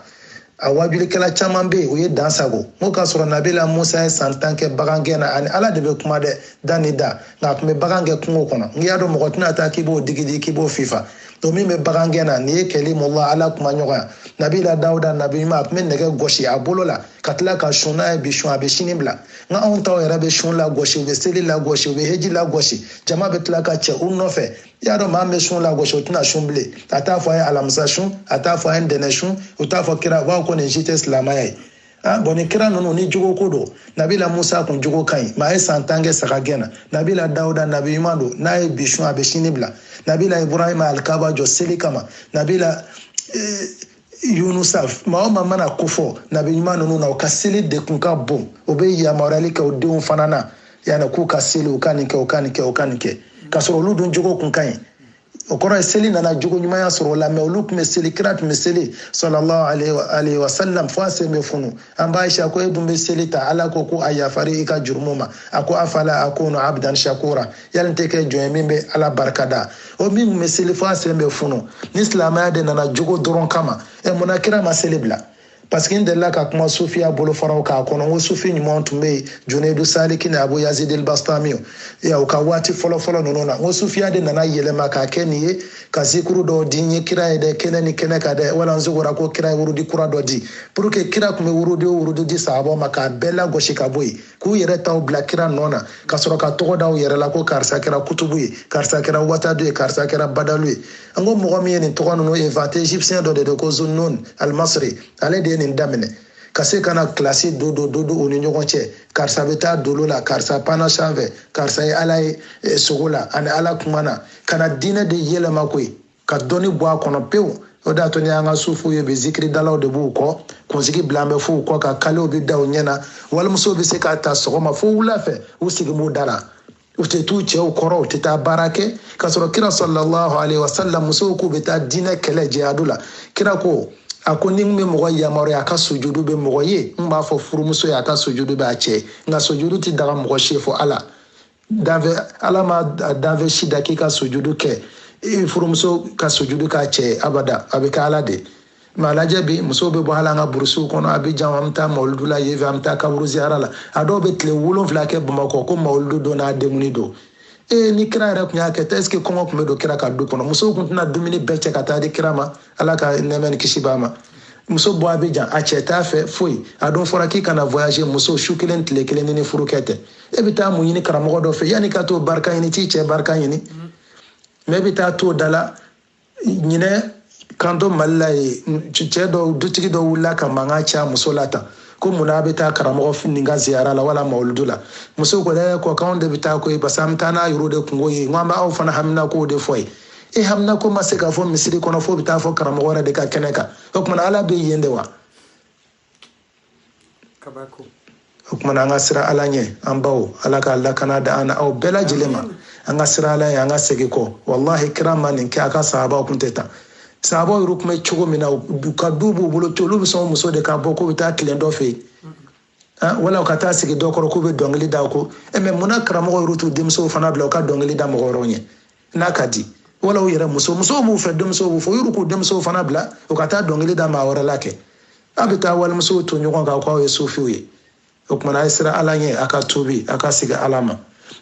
a wajulikɛla caman bɛ yen u ye dan sagon n ko k'a sɔrɔ nabila musa ye san tan kɛ bagangɛn na ani ala de bɛ kuma dɛ da ni da nka a tun bɛ bagan gɛn kungo kɔnɔ n'i y'a dɔn mɔgɔ tɛna taa k'i b'o digi k'i b'o fifa to min bɛ bagangɛn na nin ye kalimullah ala kumaɲɔgɔn nabila dawuda nabi ɲuman a tun bɛ nɛgɛ gosi a bolo la ka tila ka sun n'a ye bi sun a bɛ sini bila nka anw taw yɛrɛ bɛ sun lagosi u bɛ seli lagosi u bɛ heji lagosi jama bɛ tila ka cɛ u nɔfɛ i y'a dɔn maa min bɛ sun lagosi o tɛna sun bilen a t'a fɔ a ye alamisa sun a t'a fɔ a ye ntɛnɛn sun u t'a fɔ kira u b'a fɔ ko nin si tɛ silamɛya ye Ah, bon ni kira ninnu ni jogo ko don nabila musa kun jogo ka ɲi ma a ye san tan kɛ saga gɛn na nabila dawuda nabi ɲuman don n'a ye bi sun a bɛ sini bila nabila ibrahima alikaba jɔ seli kama nabila eh, yunusa maa o maa mana ko fɔ nabi ɲuman ninnu na u ka seli de kun ka bon u bɛ yamaruyali kɛ u denw fana na yanni k'u ka seli u ka nin kɛ u ka nin kɛ u ka nin kɛ k'a sɔrɔ olu dun jogo kun ka ɲi o kɔrɔ ye seli nana jogo ɲumanya sɔrɔ o la mɛ olu tun bɛ seli kira tun bɛ seli sallallahu alayhi wa sallam fo a sen bɛ funu an ba ayisa ko e dun bɛ seli tan ala ko ko a yafara i ka jurumu ma a ko afala akunu abdan shakura yali n tɛ kɛ jɔn ye min bɛ ala barika da o min tun bɛ seli fo a sen bɛ funu ni silamɛya de nana jogo dɔrɔn kama ɛ munna kira ma seli bila parce que n delila ka kuma sufiya bolofaraw kan kɔnɔ n ko sufi ɲumanw tun bɛ yen junedu saliki ni abu yazidil bastamiyo ya u ka waati fɔlɔfɔlɔ ninnu na n ko sufiya de nana yɛlɛma k'a kɛ nin ye ka zikuru dɔ di n ye kira ye dɛ kɛnɛ ni kɛnɛ kan dɛ wala n sogora ko kira ye wurudi kura dɔ di pour que kira tun bɛ wurudi o wurudi di sahabaw ma k'a bɛɛ lagosi ka bɔ yen k'u yɛrɛ taw bila kira nɔ na ka sɔrɔ ka tɔgɔ da u yɛrɛ la ko karisa kɛra kutubu ye karisa kɛra watadu ye karisa kɛra badalu ye an ko mɔgɔ min ye nin tɔgɔ ninnu inventé égyptien dɔ de don ko zunnun almasri ale de ye nin daminɛ ka se ka na kilasi do do do do u ni ɲɔgɔn cɛ karisa bɛ taa dolo la karisa panna sanfɛ karisa ye ala ye eh, sogo la a ni ala kumana ka na diinɛ de yɛlɛma koyi ka dɔnni bɔ a kɔnɔ pewu o de y'a to n'i y'an ka sufiw ye bi zikiridalaw de b'u kɔ kunsigi bilalen bɛ f'u kɔ kan kalew bɛ da u ɲɛ na walimusow bɛ se k'a ta sɔgɔma fo wula fɛ u sigi b'u da la u tɛ t'u cɛw kɔrɔ u tɛ taa baara kɛ k'a sɔrɔ kira sallallahu alayhi wa sallam musow k'u bɛ taa diinɛ kɛlɛ jihadu la kira ko a ko ni n bɛ mɔgɔ yamaruya a ka sujudu bin mɔgɔ ye n b'a fɔ furumuso ye a ka sujudu bin a cɛ nka sujudu tɛ daga mɔgɔ si fo ala danfɛn ala ma danfɛn si da k'i ka sujudu kɛ furumuso ka sujudu k'a cɛ abada a bɛ kɛ ala de mɛ a lajɛ bi musow bɛ bɔ hali an ka burusiw kɔnɔ abijan an bɛ taa mawuludu la yen fɛ an bɛ taa kaburu ziyara la a dɔw bɛ tile wolonfila kɛ bamakɔ ko mawuludu don n'a denkundi don ee ni kira yɛrɛ tun y'a kɛ tan est-ce que kɔngɔ tun bɛ don kira ka du kɔnɔ musow tun tɛna dumuni bɛɛ cɛ ka taa di kira ma ala ka nɛɛmɛ ni kisi b'a ma muso bɔ abijan a cɛ t'a fɛ foyi a dun fɔra k'i kana voyager muso su kelen tile kelen n'i ni furukɛ tɛ e bɛ taa mun ɲini karamɔgɔ dɔ fɛ yanni ka t'o barika ɲini t'i cɛ barika ɲini mɛ e bɛ taa t'o da la ɲinan k'an to mali la yen cɛ dɔw dutigi dɔ wulila ka mankan ci a muso la tan ko munna a bɛ taa karamɔgɔ nin ka ziyara la wala mawuludu la muso ko dɛ ko k'anw de bɛ taa koyi parce que an bɛ taa n'aw yɛrɛ de kunko ye n ko an bɛ aw fana haminakow de fɔ yen e haminako ma se ka fɔ misiri kɔnɔ fo bɛ taa fɔ karamɔgɔ yɛrɛ de ka kɛnɛ kan o tumana ala bɛ yen de wa o kumana an ka sira ala ɲɛ an baw ala ka lakana da an na aw bɛɛ lajɛlen ma an ka sira ala ye an ka segin kɔ walahi kira ma nin kɛ a ka sahabaw kun tɛ tan sahabaw yɛrɛ kun bɛ cogo min na ka du b'u bolo to olu bɛ sɔn muso de ka bɔ k'u bɛ taa tilen dɔ fɛ yen wala u ka taa sigi dɔ kɔrɔ k'u bɛ dɔnkili da ko mais munna karamɔgɔ yɛrɛ t'u denmusow fana bila u ka dɔnkili da mɔgɔ wɛrɛw ɲɛ n'a ka di wala u yɛrɛ muso musow b'u fɛ denmusow b'u fɛ u yɛrɛ k'u denmusow fana bila u ka taa dɔnkili da maa wɛrɛ la kɛ a bɛ taa walimusow ton ɲɔgɔn kan k'aw ye sufiw ye o kumana a ye sira ala ɲɛ a ka tuubi a ka segin ala ma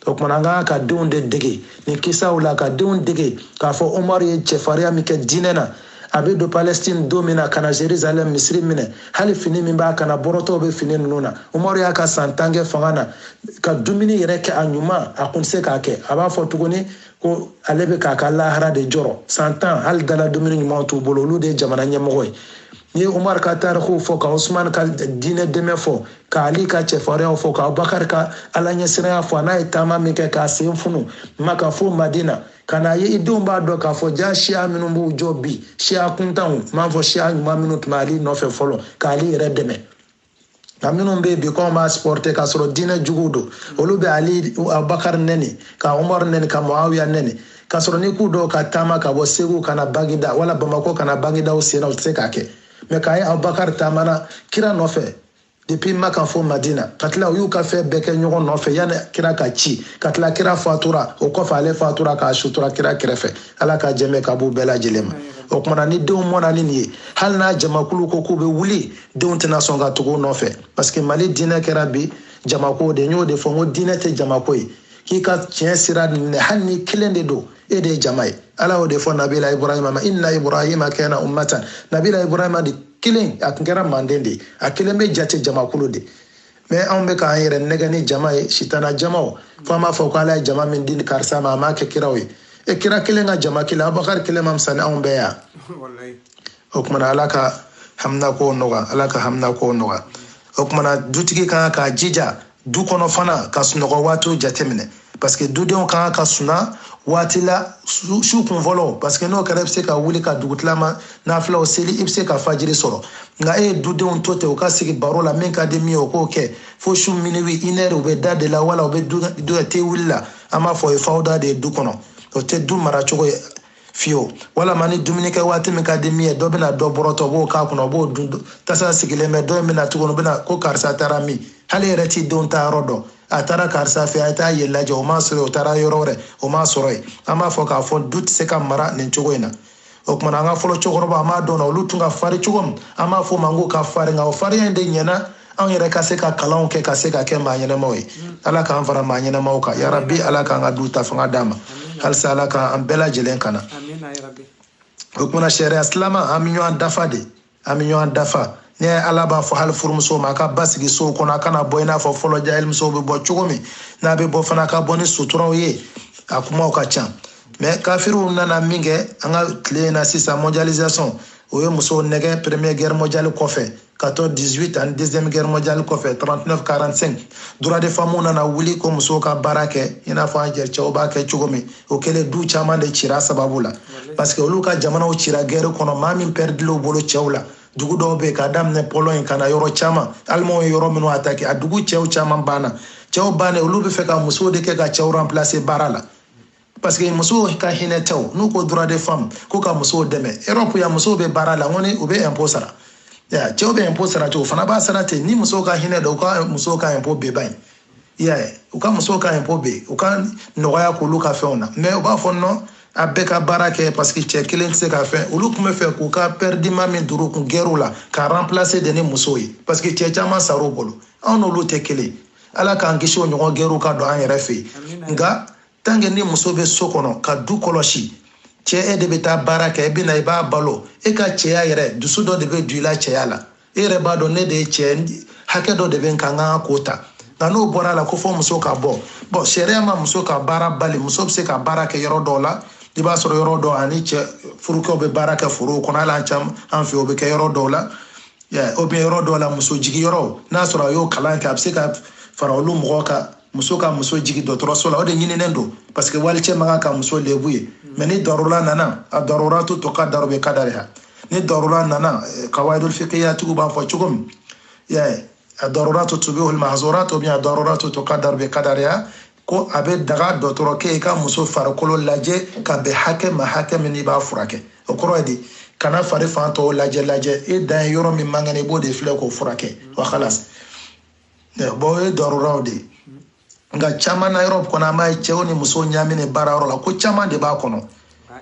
o kumana an kan ka denw de dege nin kisaw la ka denw dege k'a fɔ umaru ye cɛfariya min kɛ diinɛ na a bɛ don palestine don min na ka na jerusalem misiri minɛ hali fini min b'a kan na bɔrɔtɔw bɛ fini ninnu na umaru y'a ka san tan kɛ fanga na ka dumuni yɛrɛ kɛ a ɲuman a kun tɛ se k'a kɛ a b'a fɔ tuguni ko ale bɛ k'a ka lahara de jɔrɔ san tan hali dala dumuni ɲumanw t'u bolo olu de ye jamana ɲɛmɔgɔ ye n'i ye umar ka tarikuw fɔ ka usman ka diinɛ dɛmɛ fɔ ka ali ka cɛfariyaw fɔ ka abubakar ka ala ɲɛsiranya fɔ a n'a ye taama min kɛ k'a sen funu maka fo madina ka n'a ye i denw b'a dɔn k'a fɔ ja siya minnu b'u jɔ bi siya kuntanw n m'a fɔ siya ɲuman minnu tun bɛ ali nɔfɛ fɔlɔ ka ali yɛrɛ dɛmɛ nka minnu bɛ yen bi k'anw b'a supporter k'a sɔrɔ diinɛ juguw don olu bɛ ali abubakari nɛni ka umaru nɛni ka muawiya nɛni k'a sɔrɔ n'i k'u dɔw ka taama ka bɔ segu ka na bagida wala bamakɔ ka na bagida u sen na u tɛ se k'a kɛ mais k'a ye abubakari taamana kira nɔfɛ depuis maka fo madina ka tila u y'u ka fɛn bɛɛ kɛ ɲɔgɔn nɔfɛ yanni kira ka ci ka tila kira fatura o kɔfɛ ale fatura k'a sutura kira kɛrɛfɛ ala ka jɛmɛ ka b'u bɛɛ lajɛlen ma o kumana ni denw mɔna ni nin ye hali n'a jamakulu ko k'u bɛ wuli denw tɛna sɔn ka tugu u nɔfɛ parce que mali diinɛ kɛra bi jamako de n y'o de fɔ n ko diinɛ tɛ jamako ye k'i ka tiɲɛ sira minɛ hali n'i kelen de don e de ye jama ye ala y'o de fɔ nabila ibrahima ma inna ibrahima kana ummatan nabila ibrahima de kelen a kun kɛra manden de ye a kelen bɛ jate jamakulu de mais anw bɛ k'an yɛrɛ nɛgɛn ni jama ye sitana jamaw fo an b'a fɔ ko ala ye jama min di karisa ma a m'a kɛ kiraw ye e kira kelen ka jama kelen abubakari kelen ma fisa ni anw bɛɛ yan o kumana ala ka haminako nɔgɔya ala ka haminako nɔgɔya o kumana dutigi kan k'a jija du kɔnɔ fana ka sunɔgɔ waatiw jateminɛ parce que dudenw ka kan ka suna waati la su kun fɔlɔ parce que n'o kɛra i bɛ se ka wuli ka dugutilama nafilaw seli i bɛ se ka fajiri sɔrɔ nka e ye dudenw to ten u ka sigi baro la min ka di min ye o k'o kɛ fo su minuit une heure u bɛ da de la wala u bɛ te wuli la an b'a fɔ o ye fawuda de ye du kɔnɔ o tɛ du mara cogo ye fiyewu walama ni dumuni kɛ waati min ka di min ye dɔ bɛna dɔ bɔrɔtɔ o b'o k'a kɔnɔ o b'o dun tasa sigilen bɛ dɔ in bɛna tuguni o bɛna ko karisa taara min hali yɛrɛ t'i denw taayɔrɔ dɔn a taara karisa fɛ a ye taa yen lajɛ o m'a sɔrɔ o taara yɔrɔ wɛrɛ o m'a sɔrɔ yen an b'a fɔ k'a fɔ du tɛ se ka mara nin cogo in na o kumana an ka fɔlɔ cɛkɔrɔba an b'a dɔn na olu tun ka farin cogo min an b'a fɔ o ma k'u ka farin nka o farinya in de ɲɛna anw yɛrɛ ka se ka kalanw kɛ ka se ka kɛ maa ɲɛnɛmaw ye ala k'an fara maa ɲɛnɛmaw kan yarabi ala k'an ka du ta fanga d'an ma halisa ala k'an bɛɛ lajɛlen kana o kumana sariya silama an bɛ ɲɔgɔn dafa de an bɛ ɲɔgɔn dafa ne ala b'a fɔ hali furumuso ma a ka basigi sow kɔnɔ a kana bɔ i n'a fɔ fɔlɔ jahilimusow bɛ bɔ cogo min n'a bɛ bɔ fana a ka bɔ ni suturaw ye a kumaw ka ca mais kafiriw nana min kɛ an ka tile in na sisan mondialisation o ye musow nɛgɛ première guerre mondiale kɔfɛ 14 18 ani deuxième guerre mondiale kɔfɛ 39 45 droit de femmes nana wuli ko musow ka baara kɛ i n'a fɔ an yɛrɛ cɛw b'a kɛ cogo min o kɛlen du caman de cira sababu la parce que olu ka jamanaw cira guerre kɔnɔ maa min pɛridilen u bolo cɛw la dugu dɔw bɛ yen k'a daminɛ pologne ka na yɔrɔ caman alimanw ye yɔrɔ minnu attaquer a dugu cɛw caman banna cɛw bannen olu b'a fɛ ka musow de kɛ ka cɛw remplacer baara la parce que musow ka hinɛ tɛ n'u ko droit de femme ko ka musow dɛmɛ europe yan musow bɛ baara la n ko ni u bɛ impôt sara ya cɛw bɛ impôt sara cogo u fana b'a sara ten ni musow ka hinɛ don u ka musow ka impôt bɛɛ ban yen ya u ka musow ka impôt be u k'a nɔgɔya k'olu ka fɛnw na mais u b'a fɔ non a bɛɛ ka baara kɛ parce que cɛ kelen tɛ se ka fɛn olu tun b'a fɛ k'u ka perte humaine min dur'u kun gɛrɛw la ka remplacer de ni musow ye parce que cɛ caman sar'u bolo anw n'olu tɛ kelen ala k'an kisi o ɲɔgɔn gɛrɛw ka don an yɛrɛ fɛ yen nka tant que ni muso bɛ so kɔnɔ ka du kɔlɔsi cɛ e de bɛ taa baara kɛ e bɛ na i b'a balo e ka cɛya yɛrɛ dusu dɔ de bɛ don i la cɛya la e yɛrɛ b'a dɔn ne de ye cɛ hakɛ dɔ de bɛ n kan n ka k'o ta nka n'o bɔra a la ko fo muso ka bɔ bon sariya ma muso ka baara bali muso bɛ se ka baara kɛ yɔrɔ dɔw la i b'a sɔrɔ yɔrɔ dɔw ani cɛ furukɛw bɛ baara kɛ forow kɔnɔ hali an caman an fɛ o bɛ kɛ yɔrɔ dɔw la ou bien yɔrɔ dɔw la muso jiginyɔrɔ n'a sɔrɔ a y'o kalan kɛ a bɛ se ka fara olu mɔgɔw kan muso ka muso jigin dɔgɔtɔrɔso la o de ɲininen don parce que walicɛ man kan ka muso lebu ye mais ni darura nana a daruratu tuqaddaru bi qadariha ni darura nana eh, kawaidul fiqiyatigiw b'a fɔ cogo min y'a ye a daruratu tubihul mahzurat ou bien a daruratu tuqaddaru bi qadariha ko a bɛ daga dɔgɔtɔrɔkɛ ye ka muso farikolo lajɛ ka bɛn hakɛ ma hakɛ min n'i b'a furakɛ o kɔrɔ ye di i kana fari fan tɔw lajɛ lajɛ e dan ye yɔrɔ min man kɛnɛ i b'o de filɛ k'o furakɛ wa kalas bɔn o ye daruraw de ye nka caman na yɔrɔ kɔnɔ an b'a ye cɛw ni musow ɲaaminen baara yɔrɔ la ko caman de b'a kɔnɔ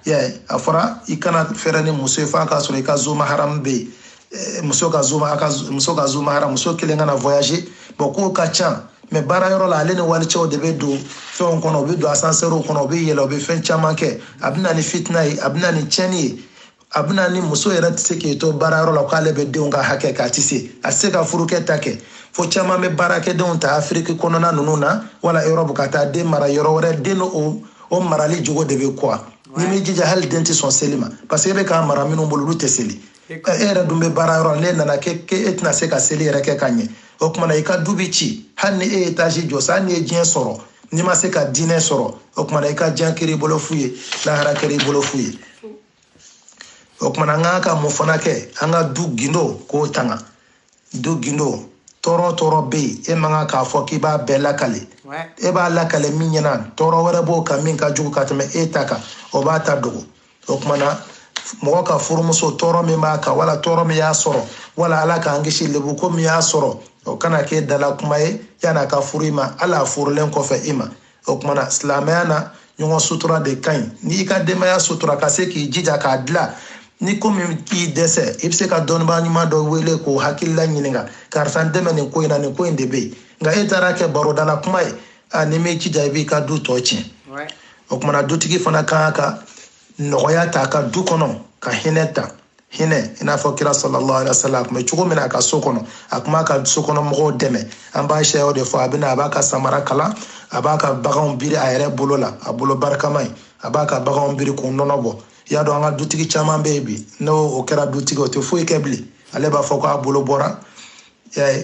yɛ a fɔra i kana fɛrɛ ni muso ye f'a k'a sɔrɔ i ka zumaharamu bɛ yen eh, muso ka zuma a ka muso ka zumaharamu muso kelen kana voyager bɔn ko ka ca mais baara yɔrɔ la ale ni walicɛw de bɛ don fɛnw kɔnɔ u bɛ don asansɛriw kɔnɔ u bɛ yɛlɛ u bɛ fɛn caman kɛ a bɛ na ni fitina ye a bɛ na ni tiɲɛni ye a bɛna ni muso yɛrɛ tɛ se k'i to baara yɔrɔ la k'ale bɛ denw ka hakɛ k'a tɛ se a tɛ se ka furukɛ ta kɛ fo caman bɛ baarakɛdenw ta afiriki kɔnɔna ninnu na wala erɔpu ka taa den mara yɔrɔ wɛrɛ den o o marali jogo de bɛ kuwa n'i m'i jija hali den tɛ sɔn seli ma parce que e bɛ k'a mara minnu bolo olu tɛ seli e yɛrɛ dun bɛ baara yɔrɔ la n'e nana kɛ e tɛna se ka seli yɛrɛ kɛ ka ɲɛ o tuma na i ka du bɛ ci hali ni e ye etazi jɔ sa hali n'i ye diɲɛ sɔrɔ n'i ma se ka diinɛ sɔrɔ o tuma na i ka diɲɛ kɛra i bolo fu ye lahara kɛra i bolo fu ye o kuma na an ka kan ka mun fana kɛ an ka du gindo k'o tanga du gindo tɔɔrɔ tɔɔrɔ bɛ yen e man kan k'a fɔ k'i b'a bɛɛ lakale e b'a lakale min ɲɛna tɔɔrɔ wɛrɛ b'o kan min ka jugu ka tɛmɛ e ta kan o b'a ta dogo o kuma na mɔgɔ ka furumuso tɔɔrɔ min b'a kan wala tɔɔrɔ min y'a sɔrɔ wala ala k'an kisi lebu ko min y'a sɔrɔ o kana k'e dala kuma ye yan'a ka furu i ma hali a furulen kɔfɛ i ma o kuma na silamɛya na ɲɔgɔn sutura de ka ɲi n'i ka denbaya sutura ka se k'i jija k'a dila ni ko min k'i dɛsɛ i bɛ se ka dɔnnibaa ɲuman dɔ wele k'o hakilila ɲininka karisa n dɛmɛ nin ko in na nin ko in de bɛ yen nka e taar'a kɛ baroda la kuma ye a n'i m'i jija i b'i ka du tɔgɔ tiɲɛ o kuma na dutigi fana ka kan ka nɔgɔya ta a ka du kɔnɔ ka hinɛ ta hinɛ i n'a fɔ kira sallallahu alaihi wasallam a tun bɛ cogo min na a ka so kɔnɔ a tun b'a ka so kɔnɔ mɔgɔw dɛmɛ an b'a sɛyaw de fɔ a bɛna a b'a ka samara kala a b'a ka baganw biri a yɛrɛ bolo la a bolo barikama ye a b'a ka baganw biri k'u nɔnɔ bɔ i y'a dɔn an ka dutigi caman bɛ yen bi n'o o kɛra dutigi o tɛ foyi kɛ bilen ale b'a fɔ k'a bolo bɔra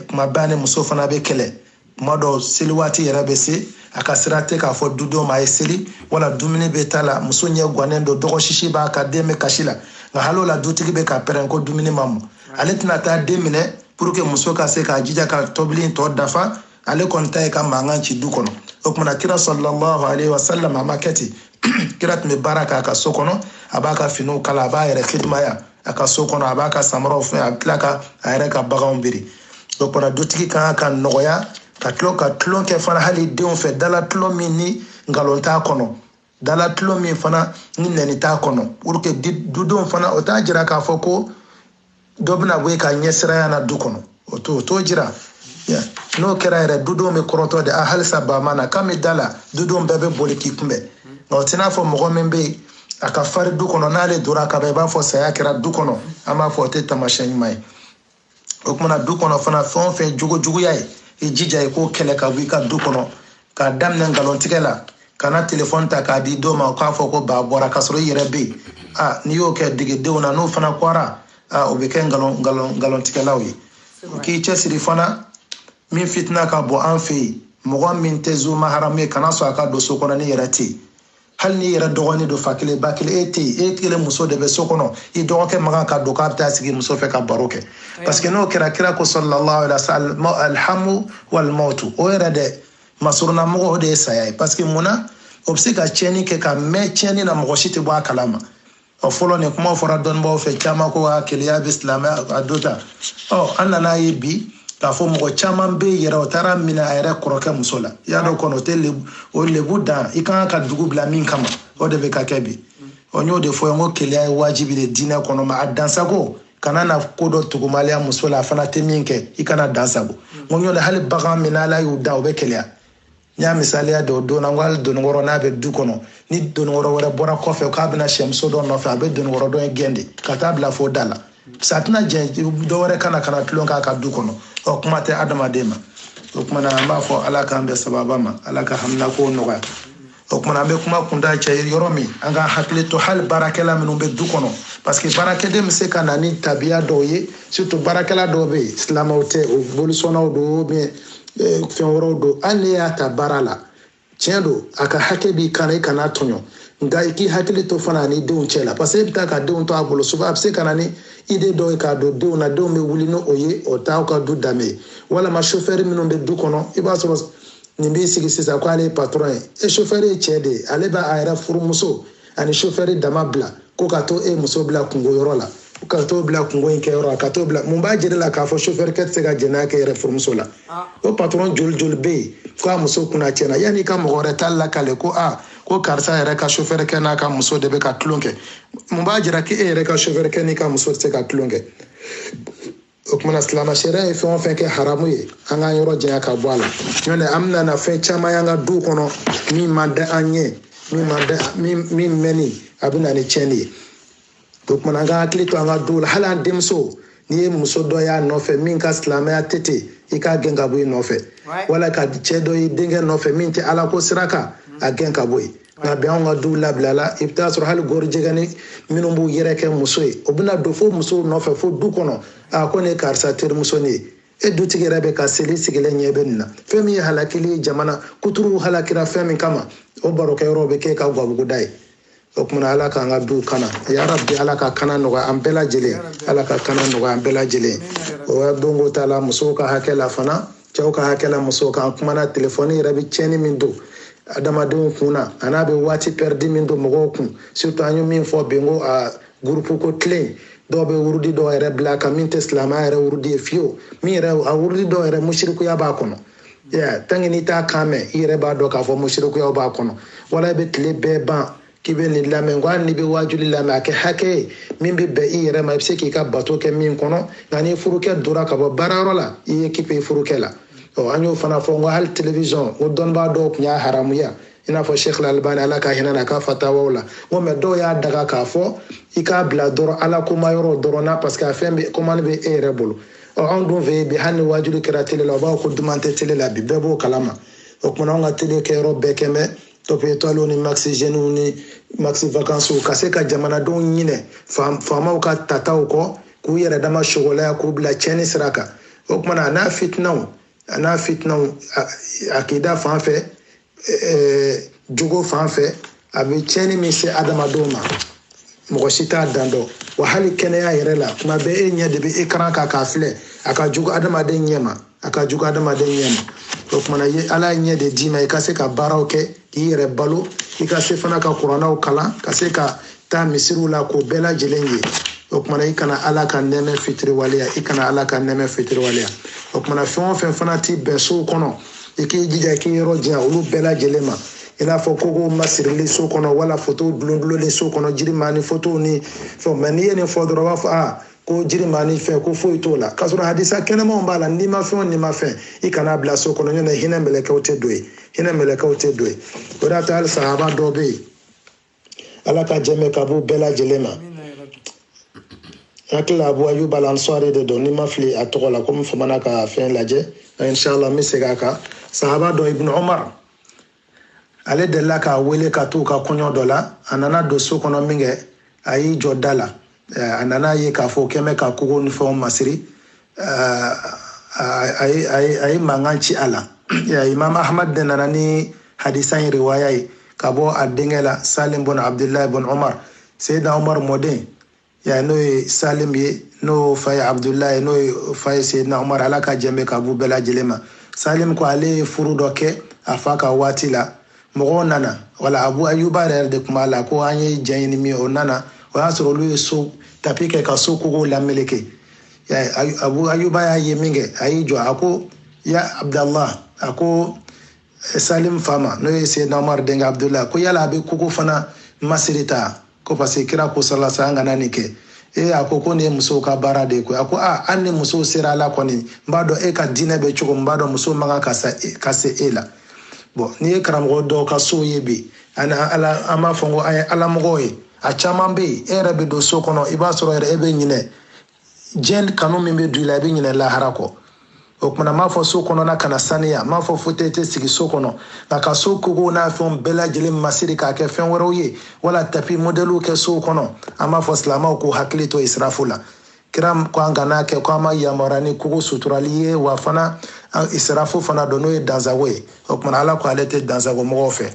kuma bɛɛ a ni muso fana bɛ kɛlɛ kuma dɔw seli waati yɛrɛ bɛ se a ka sira tɛ k'a fɔ dudenw ma a ye seli wala dumuni bɛ ta la muso ɲɛ gannen don dɔgɔ sisi b'a kan den bɛ kasi la nka hali o la dutigi bɛ ka pɛrɛn ko dumuni ma mɔ ale tɛna taa den minɛ pour que muso ka se k'a jija ka tobili in tɔ dafa ale kɔni ta ye ka mankan ci du kɔnɔ o tuma na kira sallallahu alaihi wasallam a ma kɛ ten kira tun bɛ baara kɛ a ka so kɔnɔ a b'a ka finiw kala a b'a yɛrɛ kidimaya a ka so kɔnɔ a b'a ka samaraw fɛn a bɛ tila ka a yɛrɛ ka baganw biri o kuma na dutigi ka kan ka nɔgɔya ka tulon ka tulon kɛ fana hali denw fɛ dala tulon min ni nkalon t'a kɔnɔ dala tulon min fana ni nɛni t'a kɔnɔ pour que dudenw fana o t'a jira k'a fɔ ko dɔ bɛna bɔ e ka ɲɛsiranya na du kɔnɔ o t'o t'o jira n'o kɛra yɛrɛ dudenw bɛ kɔrɔtɔ de a halisa ba ma na kan bɛ da la dudenw bɛɛ bɛ boli k'i kunbɛn nka o tɛ n'a fɔ mɔgɔ min bɛ yen a ka farin du kɔnɔ n'ale donna ka ban i b'a fɔ saya kɛra du kɔnɔ an b'a fɔ o tɛ taamasiyɛn ɲuman ye o kumana du kɔnɔ fana fɛn o fɛn jogo juguya ye i jija i k'o kɛlɛ ka bɔ i ka du kɔnɔ k'a daminɛ nkalon tigɛ la kana telefɔni ta k'a di denw ma k'a fɔ ko ba bɔra k'a sɔrɔ i yɛrɛ bɛ yen a n'i y'o kɛ dege denw na n'o fana kɔra a o bɛ kɛ nkalon nkalon nkalon tigɛlaw ye o k'i cɛsiri fana min fitina ka bɔ an fɛ yen mɔgɔ min tɛ zu maharamu ye kana sɔn a ka don so kɔnɔ n'i yɛrɛ tɛ yen hali n'i yɛrɛ dɔgɔnin don fa kelen ba kelen e tɛ yen e kelen muso de bɛ so kɔnɔ i dɔgɔkɛ man kan ka don k'a bɛ taa sigi muso fɛ ka baro kɛ parce que n'o kɛra kira ko sallallahu alaihi wa sallam alhamwu almawtu o yɛrɛ de masurunna mɔgɔ o de ye saya ye parce que mun na o bɛ se ka tiɲɛni kɛ ka mɛn tiɲɛni na mɔgɔ si tɛ bɔ a kalama ɔ fɔlɔ nin kuma fɔra dɔnnibaaw fɛ caman ko a keleya bɛ silamɛya do ta ɔ an nana ye bi k'a fɔ mɔgɔ caman bɛ yɛrɛ o taara minɛ a yɛrɛ kɔrɔkɛ muso la i y'a dɔn kɔnɔ o tɛ lebu o lebu dan i kan ka dugu bila min kama o de bɛ ka kɛ bi ɔ n y'o de fɔ n ko keleya ye wajibi de diinɛ kɔnɔ mais a dansagon kana na ko dɔ tugumaliya muso la a fana tɛ min kɛ i kana dansagon n ko n y'o de hali bagan minnu ala y'u dan o bɛ keleya n y'a misaliya dɔ don na n ko hali dononkɔrɔ n'a bɛ du kɔnɔ ni dononkɔrɔ wɛrɛ bɔra kɔfɛ k'a bɛna sɛmuso dɔ nɔfɛ a bɛ dononkɔrɔ dɔ in gɛn de ka taa bila fo da la parce que a tɛna jɛn dɔwɛrɛ ka na ka na tulon k'a ka du kɔnɔ ɔ kuma tɛ adamaden ma o kumana an b'a fɔ ala k'an bɛ sababa ma ala ka haminakow nɔgɔya o kumana an bɛ kuma kunda cɛ yɔrɔ min an k'an hakili to hali baarakɛla minnu bɛ du kɔnɔ parce que baarakɛden bɛ se ka na ni tabiya dɔw ye surtout baarakɛla dɔw bɛ yen silamɛw tɛ o bolisɔnnaw don eh, fɛn wɛrɛw don hali n'e y'a ta baara la tiɲɛ don a ka hakɛ b'i kan na i kana tɔɲɔ nka i k'i hakili to fana a n'i denw cɛ la parce que e bɛ taa ka denw to a bolo souvent a bɛ se ka na ni idée dɔ ye k'a don denw na denw bɛ wuli n'o ye o t'aw ka du danbe ye walima sofɛri minnu bɛ du kɔnɔ i b'a sɔrɔ nin b'i sigi sisan ko ale ye patɔrɔn ye e sofɛri ye cɛ de ye ale b'a yɛrɛ furumuso ani sofɛri dama bila ko ka taa e muso bila kunko yɔrɔ la ka t'o bila kunko in kɛyɔrɔ la ka t'o bila mun b'a jira la k'a fɔ sofɛrikɛ tɛ se ka jɛnɛya k'e yɛrɛ furumuso la ah. o patɔrɔn joli joli bɛ yen ko a muso kunna tiɲɛna yanni i ka mɔgɔ wɛrɛ ta lakale ko a ko karisa yɛrɛ ka sofɛrikɛ n'a ka muso de bɛ ka tulon kɛ mun b'a jira k'e yɛrɛ ka sofɛrikɛ n'i ka muso tɛ se ka tulon kɛ o kumana silamɛ sariya ye fɛn o fɛn kɛ haramu ye an k'an yɔrɔ janya ka bɔ a la n'o tɛ an bɛna na fɛn caman y'an ka duw kɔnɔ min man d'an ye min ma da min min mɛnni a bɛ na ni tiɲɛni ye o tumana an k'an hakili to an ka duw la hali an denmuso n'i ye muso dɔ y'a nɔfɛ min ka silamɛya tɛ ten i k'a gɛn ka bɔ i nɔfɛ wala ka cɛ dɔ y'i denkɛ nɔfɛ min tɛ ala ko sira kan a gɛn ka bɔ yen nka bi anw ka duw labilala i bɛ taa sɔrɔ hali gɔrijigɛni minnu b'u yɛrɛ kɛ muso ye o bɛna don fo musow nɔfɛ fo du kɔnɔ a ko ne ye karisa terimuso nin ye e dutigi yɛrɛ bɛ ka seli sigilen ɲɛ bɛ nin na fɛn min ye halakili ye jamana kuturuw halakira fɛn min kama o barokɛyɔrɔ bɛ kɛ i ka gabuguda ye o kumana ala k'an ka duw kana ya rabi ala ka kana nɔgɔya an bɛɛ lajɛlen ala ka kana nɔgɔya an bɛɛ lajɛlen o ya donko t'a la musow ka hakɛ la fana cɛw ka hakɛ la musow kan kumana telefɔni yɛrɛ bɛ tiɲɛni min don adamadenw kun na a n'a bɛ waati pɛridi min don mɔgɔw kun surtout an ye min fɔ bi n ko a gurupu ko tilen dɔw bɛ wurudi dɔw yɛrɛ bila a kan min tɛ silamɛya yɛrɛ wurudi ye fiyewu min yɛrɛ a wurudi dɔw yɛrɛ musirikuya b'a kɔnɔ tant que n'i t'a kan mɛn i yɛrɛ b'a dɔn k'a fɔ musirikuyaw b'a kɔnɔ wala i bɛ tile bɛɛ ban k'i bɛ nin lamɛn ko hali n'i bɛ waajuli lamɛn a kɛ hakɛ ye min bɛ bɛn i yɛrɛ ma i bɛ se k'i ka bato kɛ min kɔnɔ nka ni furukɛ dora ka bɔ baarayɔrɔ la i ye occuper i furukɛ la ɔ an y'o fana fɔ n ko hali telewizɔn n ko dɔnnibaa dɔw tun y'a haramuya i n'a fɔ sheikh al-albani ala ka hinɛ na ka fatawaw la n ko mɛ dɔw y'a daga k'a fɔ i k'a bila dɔrɔn ala kuma yɔrɔ dɔrɔn na parce que a fɛn bɛ commande bɛ e yɛrɛ bolo ɔ anw dun fɛ yen bi hali ni waajuli kɛra tele la u b'a fɔ ko duman tɛ tele la bi bɛɛ b'o kalama o kumana anw ka tele kɛyɔrɔ bɛɛ kɛmɛ top étoiles ni maxi jeunes ni maxi vacances ka se ka jamanadenw ɲinɛ faamaw ka tataw kɔ k'u yɛrɛ dama sogolaya k'u bila cɛni sira kan o kumana a n'a fitinaw a n'a fitinaw akida fan fɛ jogo fan fɛ a bɛ cɛni min se adamadenw ma mɔgɔ si t'a dan dɔn wa hali kɛnɛya yɛrɛ la tuma bɛɛ e ɲɛ de bɛ écran kan k'a filɛ a ka jugu adamaden ɲɛ ma a ka jugu adamaden ɲɛ ma o kumana ye ala ye ɲɛ de d'i ma i ka se ka baaraw kɛ k'i yɛrɛ balo i ka se fana ka kurannaw kalan ka se ka taa misiriw la k'o bɛɛ lajɛlen ye o kumana i kana ala ka nɛɛmɛ fitiriwaleya i kana ala ka nɛɛmɛ fitiriwaleya o kumana fɛn o fɛn fana ti bɛn sow kɔnɔ i k'i jija i k'i yɔrɔ janya olu bɛɛ lajɛlen ma i n'a fɔ kogo masirili so kɔnɔ wala fotow dulondulonnen so kɔnɔ jirimaanin fotow ni fɛnw mɛ n'i ye nin fɔ dɔrɔn u b'a fɔ aa ko jirimaanin fɛn ko foyi t'o la k'a sɔrɔ hadisa kɛnɛmanw b'a la nimafɛn o nimafɛn i kan'a bila so kɔnɔ nɔntɛ hinɛ mɛlɛkɛw tɛ don yen hinɛ mɛlɛkɛw tɛ don yen o de y'a to hali sahaba dɔ bɛ yen ala ka jɛmɛ ka b'u bɛɛ lajɛlen ma n hakili la abu ayuba al-ansari de don ni n ma fili a tɔgɔ la komi n famana ka fɛn lajɛ inshallah n bɛ segin a kan sahaba dɔ ibn umar ale delila k'a wele ka t'u ka kɔɲɔ dɔ la a nana don so kɔnɔ min kɛ a y'i jɔ da la a nana a ye k'a fɔ kɛmɛ ka kogo ni fɛnw masiri a ye mankan ci a la imam ahmad de nana ni hadisa in riwaya ye ka bɔ a denkɛ la salim bun abdullahi bun umar seyidina umar mɔden ya n'o ye salim ye n'o fa ye abudulayi ye n'o ye fa ye seyidina umar ala ka jɛn bɛ ka b'u bɛɛ lajɛlen ma salim ko ale ye furu dɔ kɛ a fa ka waati la mɔgɔw nana wala abu ayuba yɛrɛ de tun b'a la ko an ye jɛn ɲini min o nana o y'a sɔrɔ olu ye so tapi kɛ ka so kogow lameleke abu ayuba y'a ye min kɛ a y'i jɔ a ko ya abudulayi a ko salim fa ma n'o ye seyidina umar denkɛ abudulayi ko yala a bɛ kogo fana masiri ta ko parce que kira ko sallallahu alaihi wasallam an kana nin kɛ e a ko ko nin ye musow ka baara de ye koyi a ko a hali ni musow sera la kɔni n b'a dɔn e ka diinɛ bɛ cogo min n b'a dɔn musow man kan ka se e la bon n'i ye karamɔgɔ dɔw ka sow ye bi ani an b'a fɔ ko an ye alamɔgɔw ye a caman bɛ yen e yɛrɛ bɛ don so kɔnɔ i b'a sɔrɔ yɛrɛ e bɛ ɲinɛ diɲɛ kanu min bɛ don i la i bɛ ɲinɛ lahara kɔ o kumana m'a fɔ so kɔnɔna kana saniya m'a fɔ fauteuil tɛ sigi so kɔnɔ nka ka so kogow n'a fɛnw bɛɛ lajɛlen masiri k'a kɛ fɛn wɛrɛw ye wala tapi modɛliw kɛ sow kɔnɔ an b'a fɔ silamaw k'u hakili to israfu la kira ko an kana kɛ ko an ma yamaruya ni kogo suturali ye wa fana israfu fana don n'o ye dansago ye o kumana ala ko ale tɛ dansago mɔgɔw fɛ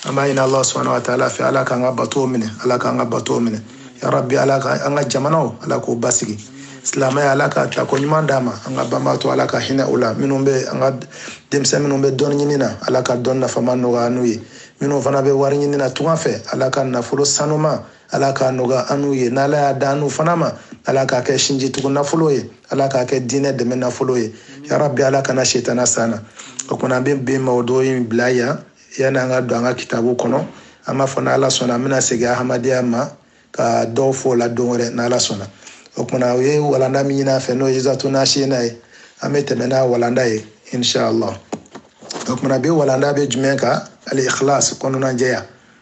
an b'a ɲini ala subahana wa taala fɛ ala k'an ka batow minɛ ala k'an ka batow minɛ ya rabi ala ka an ka jamanaw ala k'o basigi silamɛya ala ka ta ko ɲuman d'a ma an ka banbaatɔ ala ka hinɛ u la minnu bɛ an ka denmisɛn minnu bɛ dɔnni ɲini na ala ka dɔnni nafama nɔgɔya n'u ye minnu fana bɛ wari ɲini na tunga fɛ ala ka nafolo sanuman ala k'a nɔgɔya an n'u ye n'ala y'a da an n'u fana ma ala k'a kɛ sinjitugu nafolo ye ala k'a kɛ diinɛ dɛmɛ nafolo ye ya rabi ala kana setana s'an na o kumana an bɛ bi mawudu in bila yan yanni an ka don an ka kitabu kɔnɔ an b'a fɔ n'ala sɔnna an bɛna segin ahamadiya ma ka dɔw fɔ o la don wɛrɛ n'ala sɔnna o kumana o ye walanda min ɲin'a fɛ n'o ye izatu nasiina ye an bɛ tɛmɛ n'a walanda ye inshallah o kumana bi walanda bɛ jumɛn kan al ikhlas kɔnɔnajɛya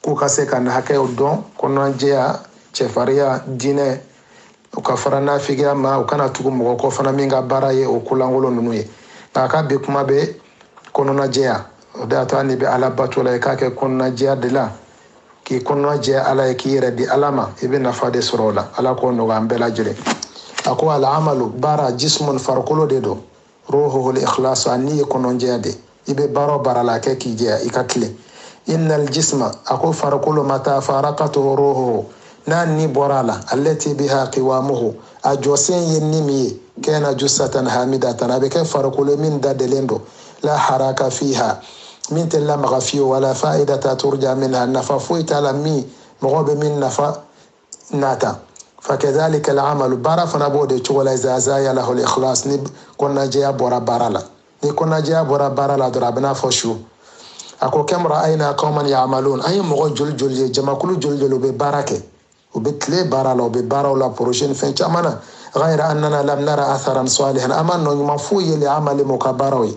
k'u ka se ka na hakɛw dɔn kɔnɔnajɛya cɛfariya diinɛ u ka fara nafigiya ma u kana tugu mɔgɔ kɔ fana min ka baara ye o kolankolon ninnu ye nka an ka bi kuma bɛ kɔnɔnajɛya o de y'a to hali n'i bɛ ala bato la i k'a kɛ kɔnɔnajɛya de la k'i kɔnɔna jɛ ala ye k'i yɛrɛ di ala ma i bɛ nafa de sɔrɔ o la ala k'o nɔgɔya an bɛɛ lajɛlen a ko al amalu baara jismun farikolo de don ruhuhul ikhlasu a ni ye kɔnɔjɛya de i bɛ baara o baara la a kɛ k'i jɛya i ka tilen innal jisma a ko farikolo mata farakathu ruhuhu n'a ni bɔra a la allati biha kiwamuhu a jɔsen ye ni min ye kana jusatan hamidatan a bɛ kɛ farikolo min dadelen don la haraka fiha min tɛ lamaga fewu wala faidata turja minha nafa foyi t'a la min mɔgɔ bɛ min nafa nata fakadhalika al'amalu baara fana b'o de cogo la iza zayalahul ikhlas ni kɔnɔnajɛya bɔra baara la ni kɔnɔnajɛya bɔra baara la dɔrɔn a bɛ n'a fɔ su a ko kam ra'ayna qawman ya'malun an ye mɔgɔ joli joli ye jamakulu joli joli u bɛ baara kɛ u bɛ tile baara la u bɛ baaraw la projet ni fɛn caman na ghayra annana lam nara atharan salihan an ma nɔ ɲuman foyi ye li amalihim u ka baaraw ye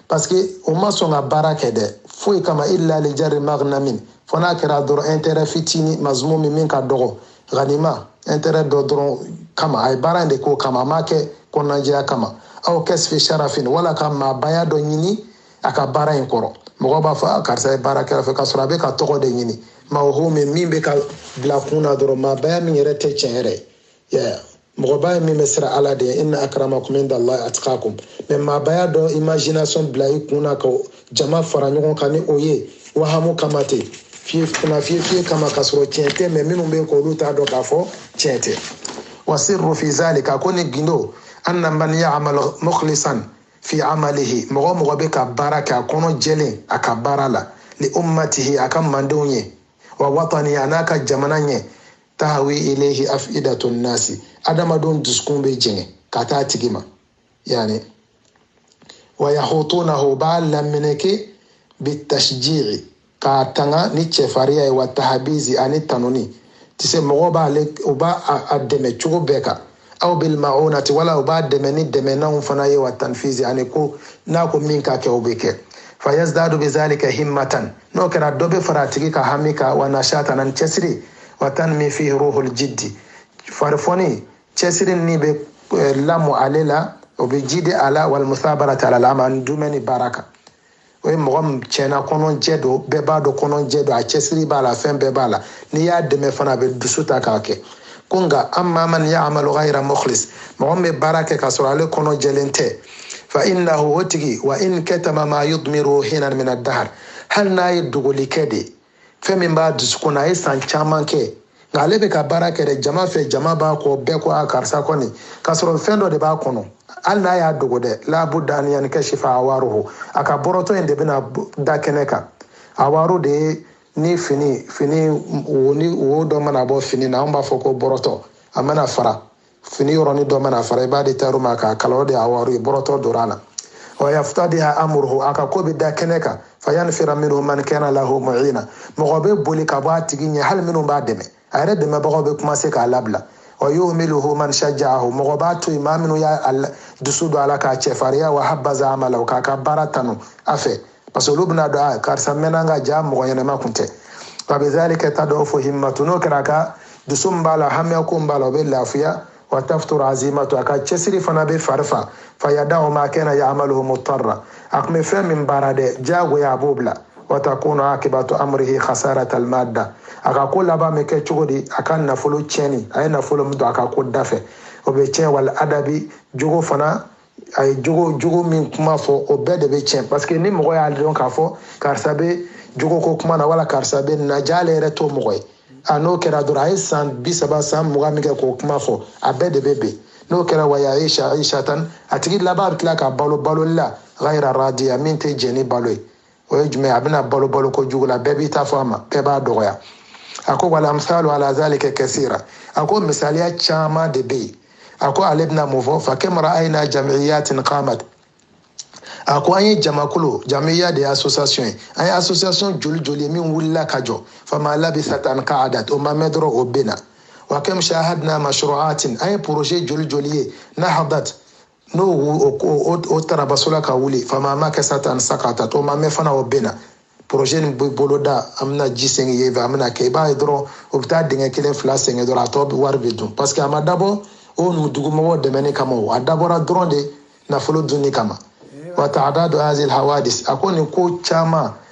parce que o ma sɔn ka baara kɛ dɛ foyi kama illa li jarri magnamin fo n'a kɛra dɔrɔn intérêt fitini mazmumin min ka dɔgɔ ganima intérêt dɔ dɔrɔn kama a ye baara in de k'o kama a m'a kɛ kɔnɔnajɛya kama aw kasbi sharafin wala ka maabaya dɔ ɲini a ka baara in kɔrɔ mɔgɔ b'a fɔ a karisa ye baara k'an fɛ k'a sɔrɔ a bɛ ka tɔgɔ de ɲini mawhumin min bɛ ka bila kun na dɔrɔn maabaya min yɛrɛ tɛ tiɲɛ yɛrɛ ye ye mɔgɔba ye min bɛ siran ala de ye inna akramakum inda allahi atqakum mais maabaya dɔ imagination bila i kun na ka jama fara ɲɔgɔn kan ni o ye wahamu kama tɛ fiye kuna fiye fiye kama k'a sɔrɔ tiɲɛ tɛ mais minnu bɛ yen k'olu t'a dɔn k'a fɔ tiɲɛ tɛ wa sirru fi zalika ko nin gundo anna man ya'mal mukhlisan fi amalihi mɔgɔ mɔgɔ bɛ ka baara kɛ a kɔnɔ jɛlen a ka baara la li ummatihi a ka mandenw ye wa watanihi a n'a ka jamana ɲɛ tahwi ilayhi afidatu nasi adamadenw dusukun bɛ jɛngɛ ka taa tigi ma yani wa yahutunahu b'a lamini kɛ bitashji'i k'a tanga ni cɛfariya ye wa tahbizi ani tanuni tise mɔgɔw b'a a dɛmɛ cogo bɛɛ kan aw bil ma'unati wala u b'a dɛmɛ ni dɛmɛnanw fana ye wa tanfizi ani ko n'a ko min ka kɛ o bɛ kɛ fa yazdadu bi zalika himmatan n'o kɛra dɔ bɛ fara a tigi ka hami kan wa nashatan ani cɛsiri wa tanmi fihi ruhul jiddi farifoni cɛsiri ni bɛ eh, lamɔ ale la o bɛ jidi a la wal musabarati alal amal dumɛni baara kan o ye mɔgɔ min tiɲɛ na kɔnɔjɛ don bɛɛ b'a dɔn kɔnɔjɛ don a cɛsiri b'a la fɛn bɛɛ b'a la n'i y'a dɛmɛ fana a bɛ dusu ta k'a kɛ ko nka amma man ya'malu ghayra mukhlis mɔgɔ min bɛ baara kɛ k'a sɔrɔ ale kɔnɔ jɛlen tɛ fa innahu o tigi wa in katama ma yudmiru hinan minad dahr hali n'a ye dogoli kɛ de fɛn min b'a dusukun na a ye san caman kɛ nka ale bɛ ka baara kɛ dɛ jama fɛ jama b'a kɔ bɛɛ ko a karisa kɔni k'a sɔrɔ fɛn dɔ de b'a kɔnɔ hali n'a y'a dogo dɛ la budda an yankashifa awaruhu a ka bɔrɔtɔ in de bɛna da kɛnɛ kan awaru de ye ni fini fini wo ni wo dɔ mana bɔ fini na an b'a fɔ ko bɔrɔtɔ a mana fara fini yɔrɔni dɔ mana fara i b'a di tailleur ma k'a kala o de awaru bɔrɔtɔ dora na wa yaftadiha amruhu a ka ko bɛ da kɛnɛ kan fa yanfira minhu man kana lahu mu'ina mɔgɔ bɛ boli ka bɔ a tigi ɲɛ hali minnu b'a dɛmɛ a yɛrɛ dɛmɛbagaw bɛ commencer k'a labila wa yuhmiluhu man shajja'ahu mɔgɔ b'a to yen maa minnu y'a dusu don a la k'a cɛfariya wa habbaza amala k'a ka baara tanu a fɛ parce que olu bɛna dɔn a karisa mɛnna ka ja mɔgɔ ɲɛnɛma kun tɛ wa bizalika tad'ufu himmatu n'o kɛra a ka dusu min b'a la hamiya ko min b'a la o bɛ lafiya wa tafuturu azimatu a ka cɛsiri fana bɛ fari fa fa yada'u ma kana ya'malu mutarra a tun bɛ fɛn min baara dɛ diyagoya a b'o bila wa takunu akibatu amrihi khasarata almadda a ka ko laban bɛ kɛ cogo di a ka nafolo tiɲɛni a ye nafolo min don a ka ko da fɛ o bɛ tiɲɛ wal adabi jogo fana a ye jogo jogo min kuma fɔ o bɛɛ de bɛ tiɲɛ parce que ni mɔgɔ y'a dɔn k'a fɔ karisa bɛ jogo ko kuma na wala karisa bɛ na ja ale yɛrɛ t'o mɔgɔ ye a n'o kɛra dɔrɔn a ye san bi saba san mugan min kɛ k'o kuma fɔ a bɛɛ de bɛ ben n'o kɛra wa ayishatan a tigi laban bɛ tila ka balo baloli la ghayra radiya min tɛ jɛn ni balo ye o ye jumɛn a bɛna balo balo ko jugu la bɛɛ b'i ta fɔ a ma bɛɛ b'a dɔgɔya a ko wal amsalu ala zalika kasira a ko misaliya caman de bɛ yen a ko ale bɛna mun fɔ fa kam ra'ayna jamiyatin qamat a ko an ye jamakulu jamiya de ye association ye an ye association joli joli ye min wulila ka jɔ fama labisat an qa'adat o ma mɛn dɔrɔn o benna wa kam shahadna mashru'atin an ye projet joli joli ye nahadat n'o o tarabasola ka wuli fama makasat an saqatat o ma mɛn fana o benna projet nin bɛ boloda an bɛna ji sɛŋɛ ye fɛ an bɛna kɛ i b'a ye dɔrɔn o bɛ taa dingɛ kelen fila sɛŋɛ dɔrɔn a tɔ bɛɛ wari bɛ dun parce que a ma dabɔ o nu dugumɔgɔw dɛmɛni kama o a dabɔra dɔrɔn de nafolo dunni kama wa ta'dadu hazil hawadis a ko nin ko caman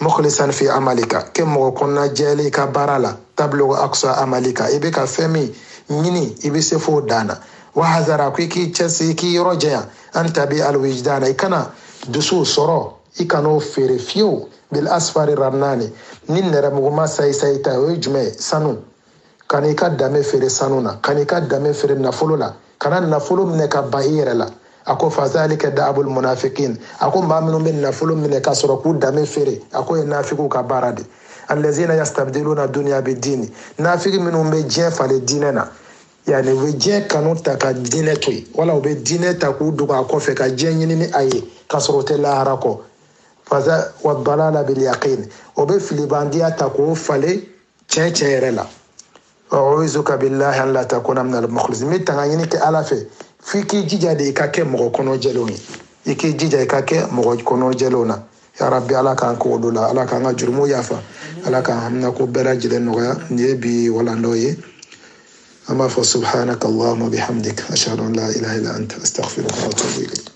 mukhlisan fi amalika kɛ mɔgɔ kɔnɔna jɛlen i ka baara la tablugu aksa amalika i bɛ ka fɛn min ɲini i bɛ se f'o dan na wahzar a ko i k'i cɛsiri i k'i yɔrɔ janya an tabi'a alwijidana i kana dusuw sɔrɔ i kan'o feere fiyewu bil asfari rannani ni nɛrɛmuguma sayi sayi ta o ye jumɛn ye sanu kana i ka dame feere sanu na kana i ka dame feere nafolo la kana nafolo minɛ ka ban i yɛrɛ la a ko fazalika daabul munafikin a ko maa minnu bɛ nafolo minɛ ka sɔrɔ k'u dame feere a k'o ye nafigiw ka baara de allazina yastabdiluna dunya bid dini nafigi minnu bɛ diɲɛ falen diinɛ na yani u bɛ diɲɛ kanu ta ka diinɛ to yen wala u bɛ diinɛ ta k'u dogo a kɔfɛ ka diɲɛ ɲini ni a ye ka sɔrɔ u tɛ lahara kɔ fasa wa dalala bil yaqin o bɛ filibandiya ta k'o falen tiɲɛ yɛrɛ la u'izuka billahi an la takuna min almukhlisin n bɛ tanga ɲini kɛ ala fɛ f'i k'i jija de i ka kɛ mɔgɔ kɔnɔ jɛlenw ye i k'i jija i ka kɛ mɔgɔ kɔnɔ jɛlenw na ya rabbi ala k'an k'olu la ala k'an ka jurumu yafa ala k'an haminako bɛɛ lajɛlen nɔgɔya nin ye bi walandaw ye an b'a fɔ subhanaka allahumma bihamdik ashhadu an la ilaha illa anta astaghfiruka wa atubu ilayk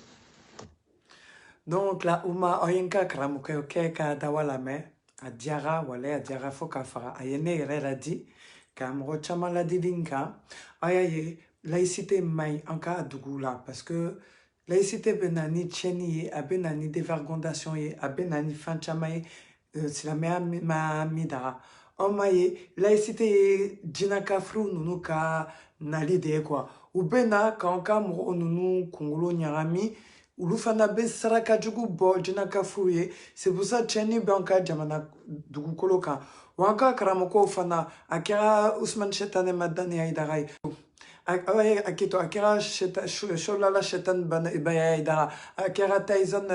Donc la Uma aw ye n ka karamɔgɔkɛ kɛ ka dawa lamɛn a diyara walayi a diyara fo ka fara a ye ne yɛrɛ ladi ka mɔgɔ caman ladili nka aw y'a ye laïcité man ɲi an ka dugu la parce que laïcité bɛ na ni tiɲɛni ye a bɛ na ni dévergondation ye a bɛ na ni fɛn caman ye Euh, silamɛya ma min daga anw m'a ye laïcité ye jina kafiriw ninnu ka nali de ye quoi u bɛ na k'an ka mɔgɔw ninnu kunkolo ɲagami olu fana bɛ saraka jugu bɔ jina kafiriw ye c'est pour ça tiɲɛni b'an ka jamana dugukolo kan wa an ka karamɔgɔw fana a kɛra usumani sɛtanɛ madani ayidara ye a keto a kɛra sholala shaitan bayaya ayidara a kɛra taizan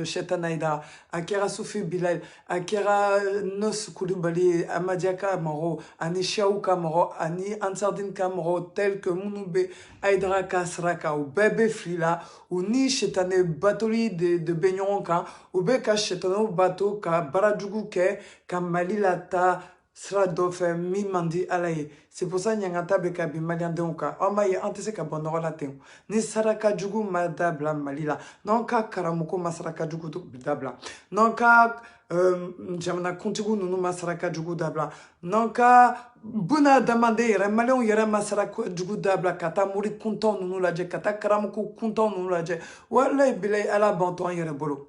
shaitan ayidara a kɛra sufi bilal a kɛra nos kulubali ye amadiya ka mɔgɔw ani shiyaw ka mɔgɔ ani ansardin ka mɔgɔ tel que minnu bɛ ayidara ka sira kan u bɛɛ bɛ fili la u ni shaitane batoli de bɛ ɲɔgɔn kan u bɛ ka shaitanaw bato ka baara jugu kɛ ka mali lataa sira dɔ fɛ min man di ala ye c'est pour ça ɲangata bɛ ka bin maliyɛndenw kan an b'a ye an tɛ se ka bɔ nɔgɔ la ten ni saraka jugu ma dabila mali la n'an ka karamɔgɔ ma saraka jugu dabila n'an ka euh, jamanakuntigiw ninnu ma saraka jugu dabila n'an ka buna adamaden yɛrɛ maliyɛnw yɛrɛ ma saraka jugu dabila ka taa mori kuntanw ninnu lajɛ ka taa karamɔgɔ kuntanw ninnu lajɛ walayi bilayi ala b'an to an yɛrɛ bolo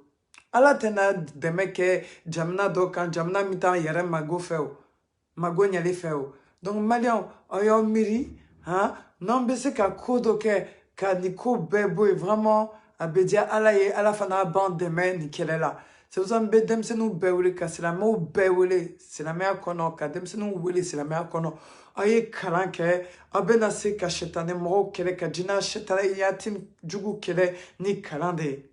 ala tɛna dɛmɛ kɛ jamana dɔ kan jamana min t'a yɛrɛ mago fɛ o mago ɲɛli fɛ o donc maliyɛnw aw y'aw miiri han n'an bɛ se ka ko dɔ kɛ ka nin ko bɛɛ bɔ yen vraiment a bɛ diya ala ye ala fana b'an dɛmɛ nin kɛlɛ la c'est pour ça n bɛ denmisɛnninw bɛɛ wele ka silamɛw bɛɛ wele silamɛya kɔnɔ ka denmisɛnninw wele silamɛya kɔnɔ aw ye kalan kɛ aw bɛna se ka sɛtanɛ mɔgɔw kɛlɛ ka jinɛ sɛtanɛyatigi jugu kɛlɛ ni kalan de ye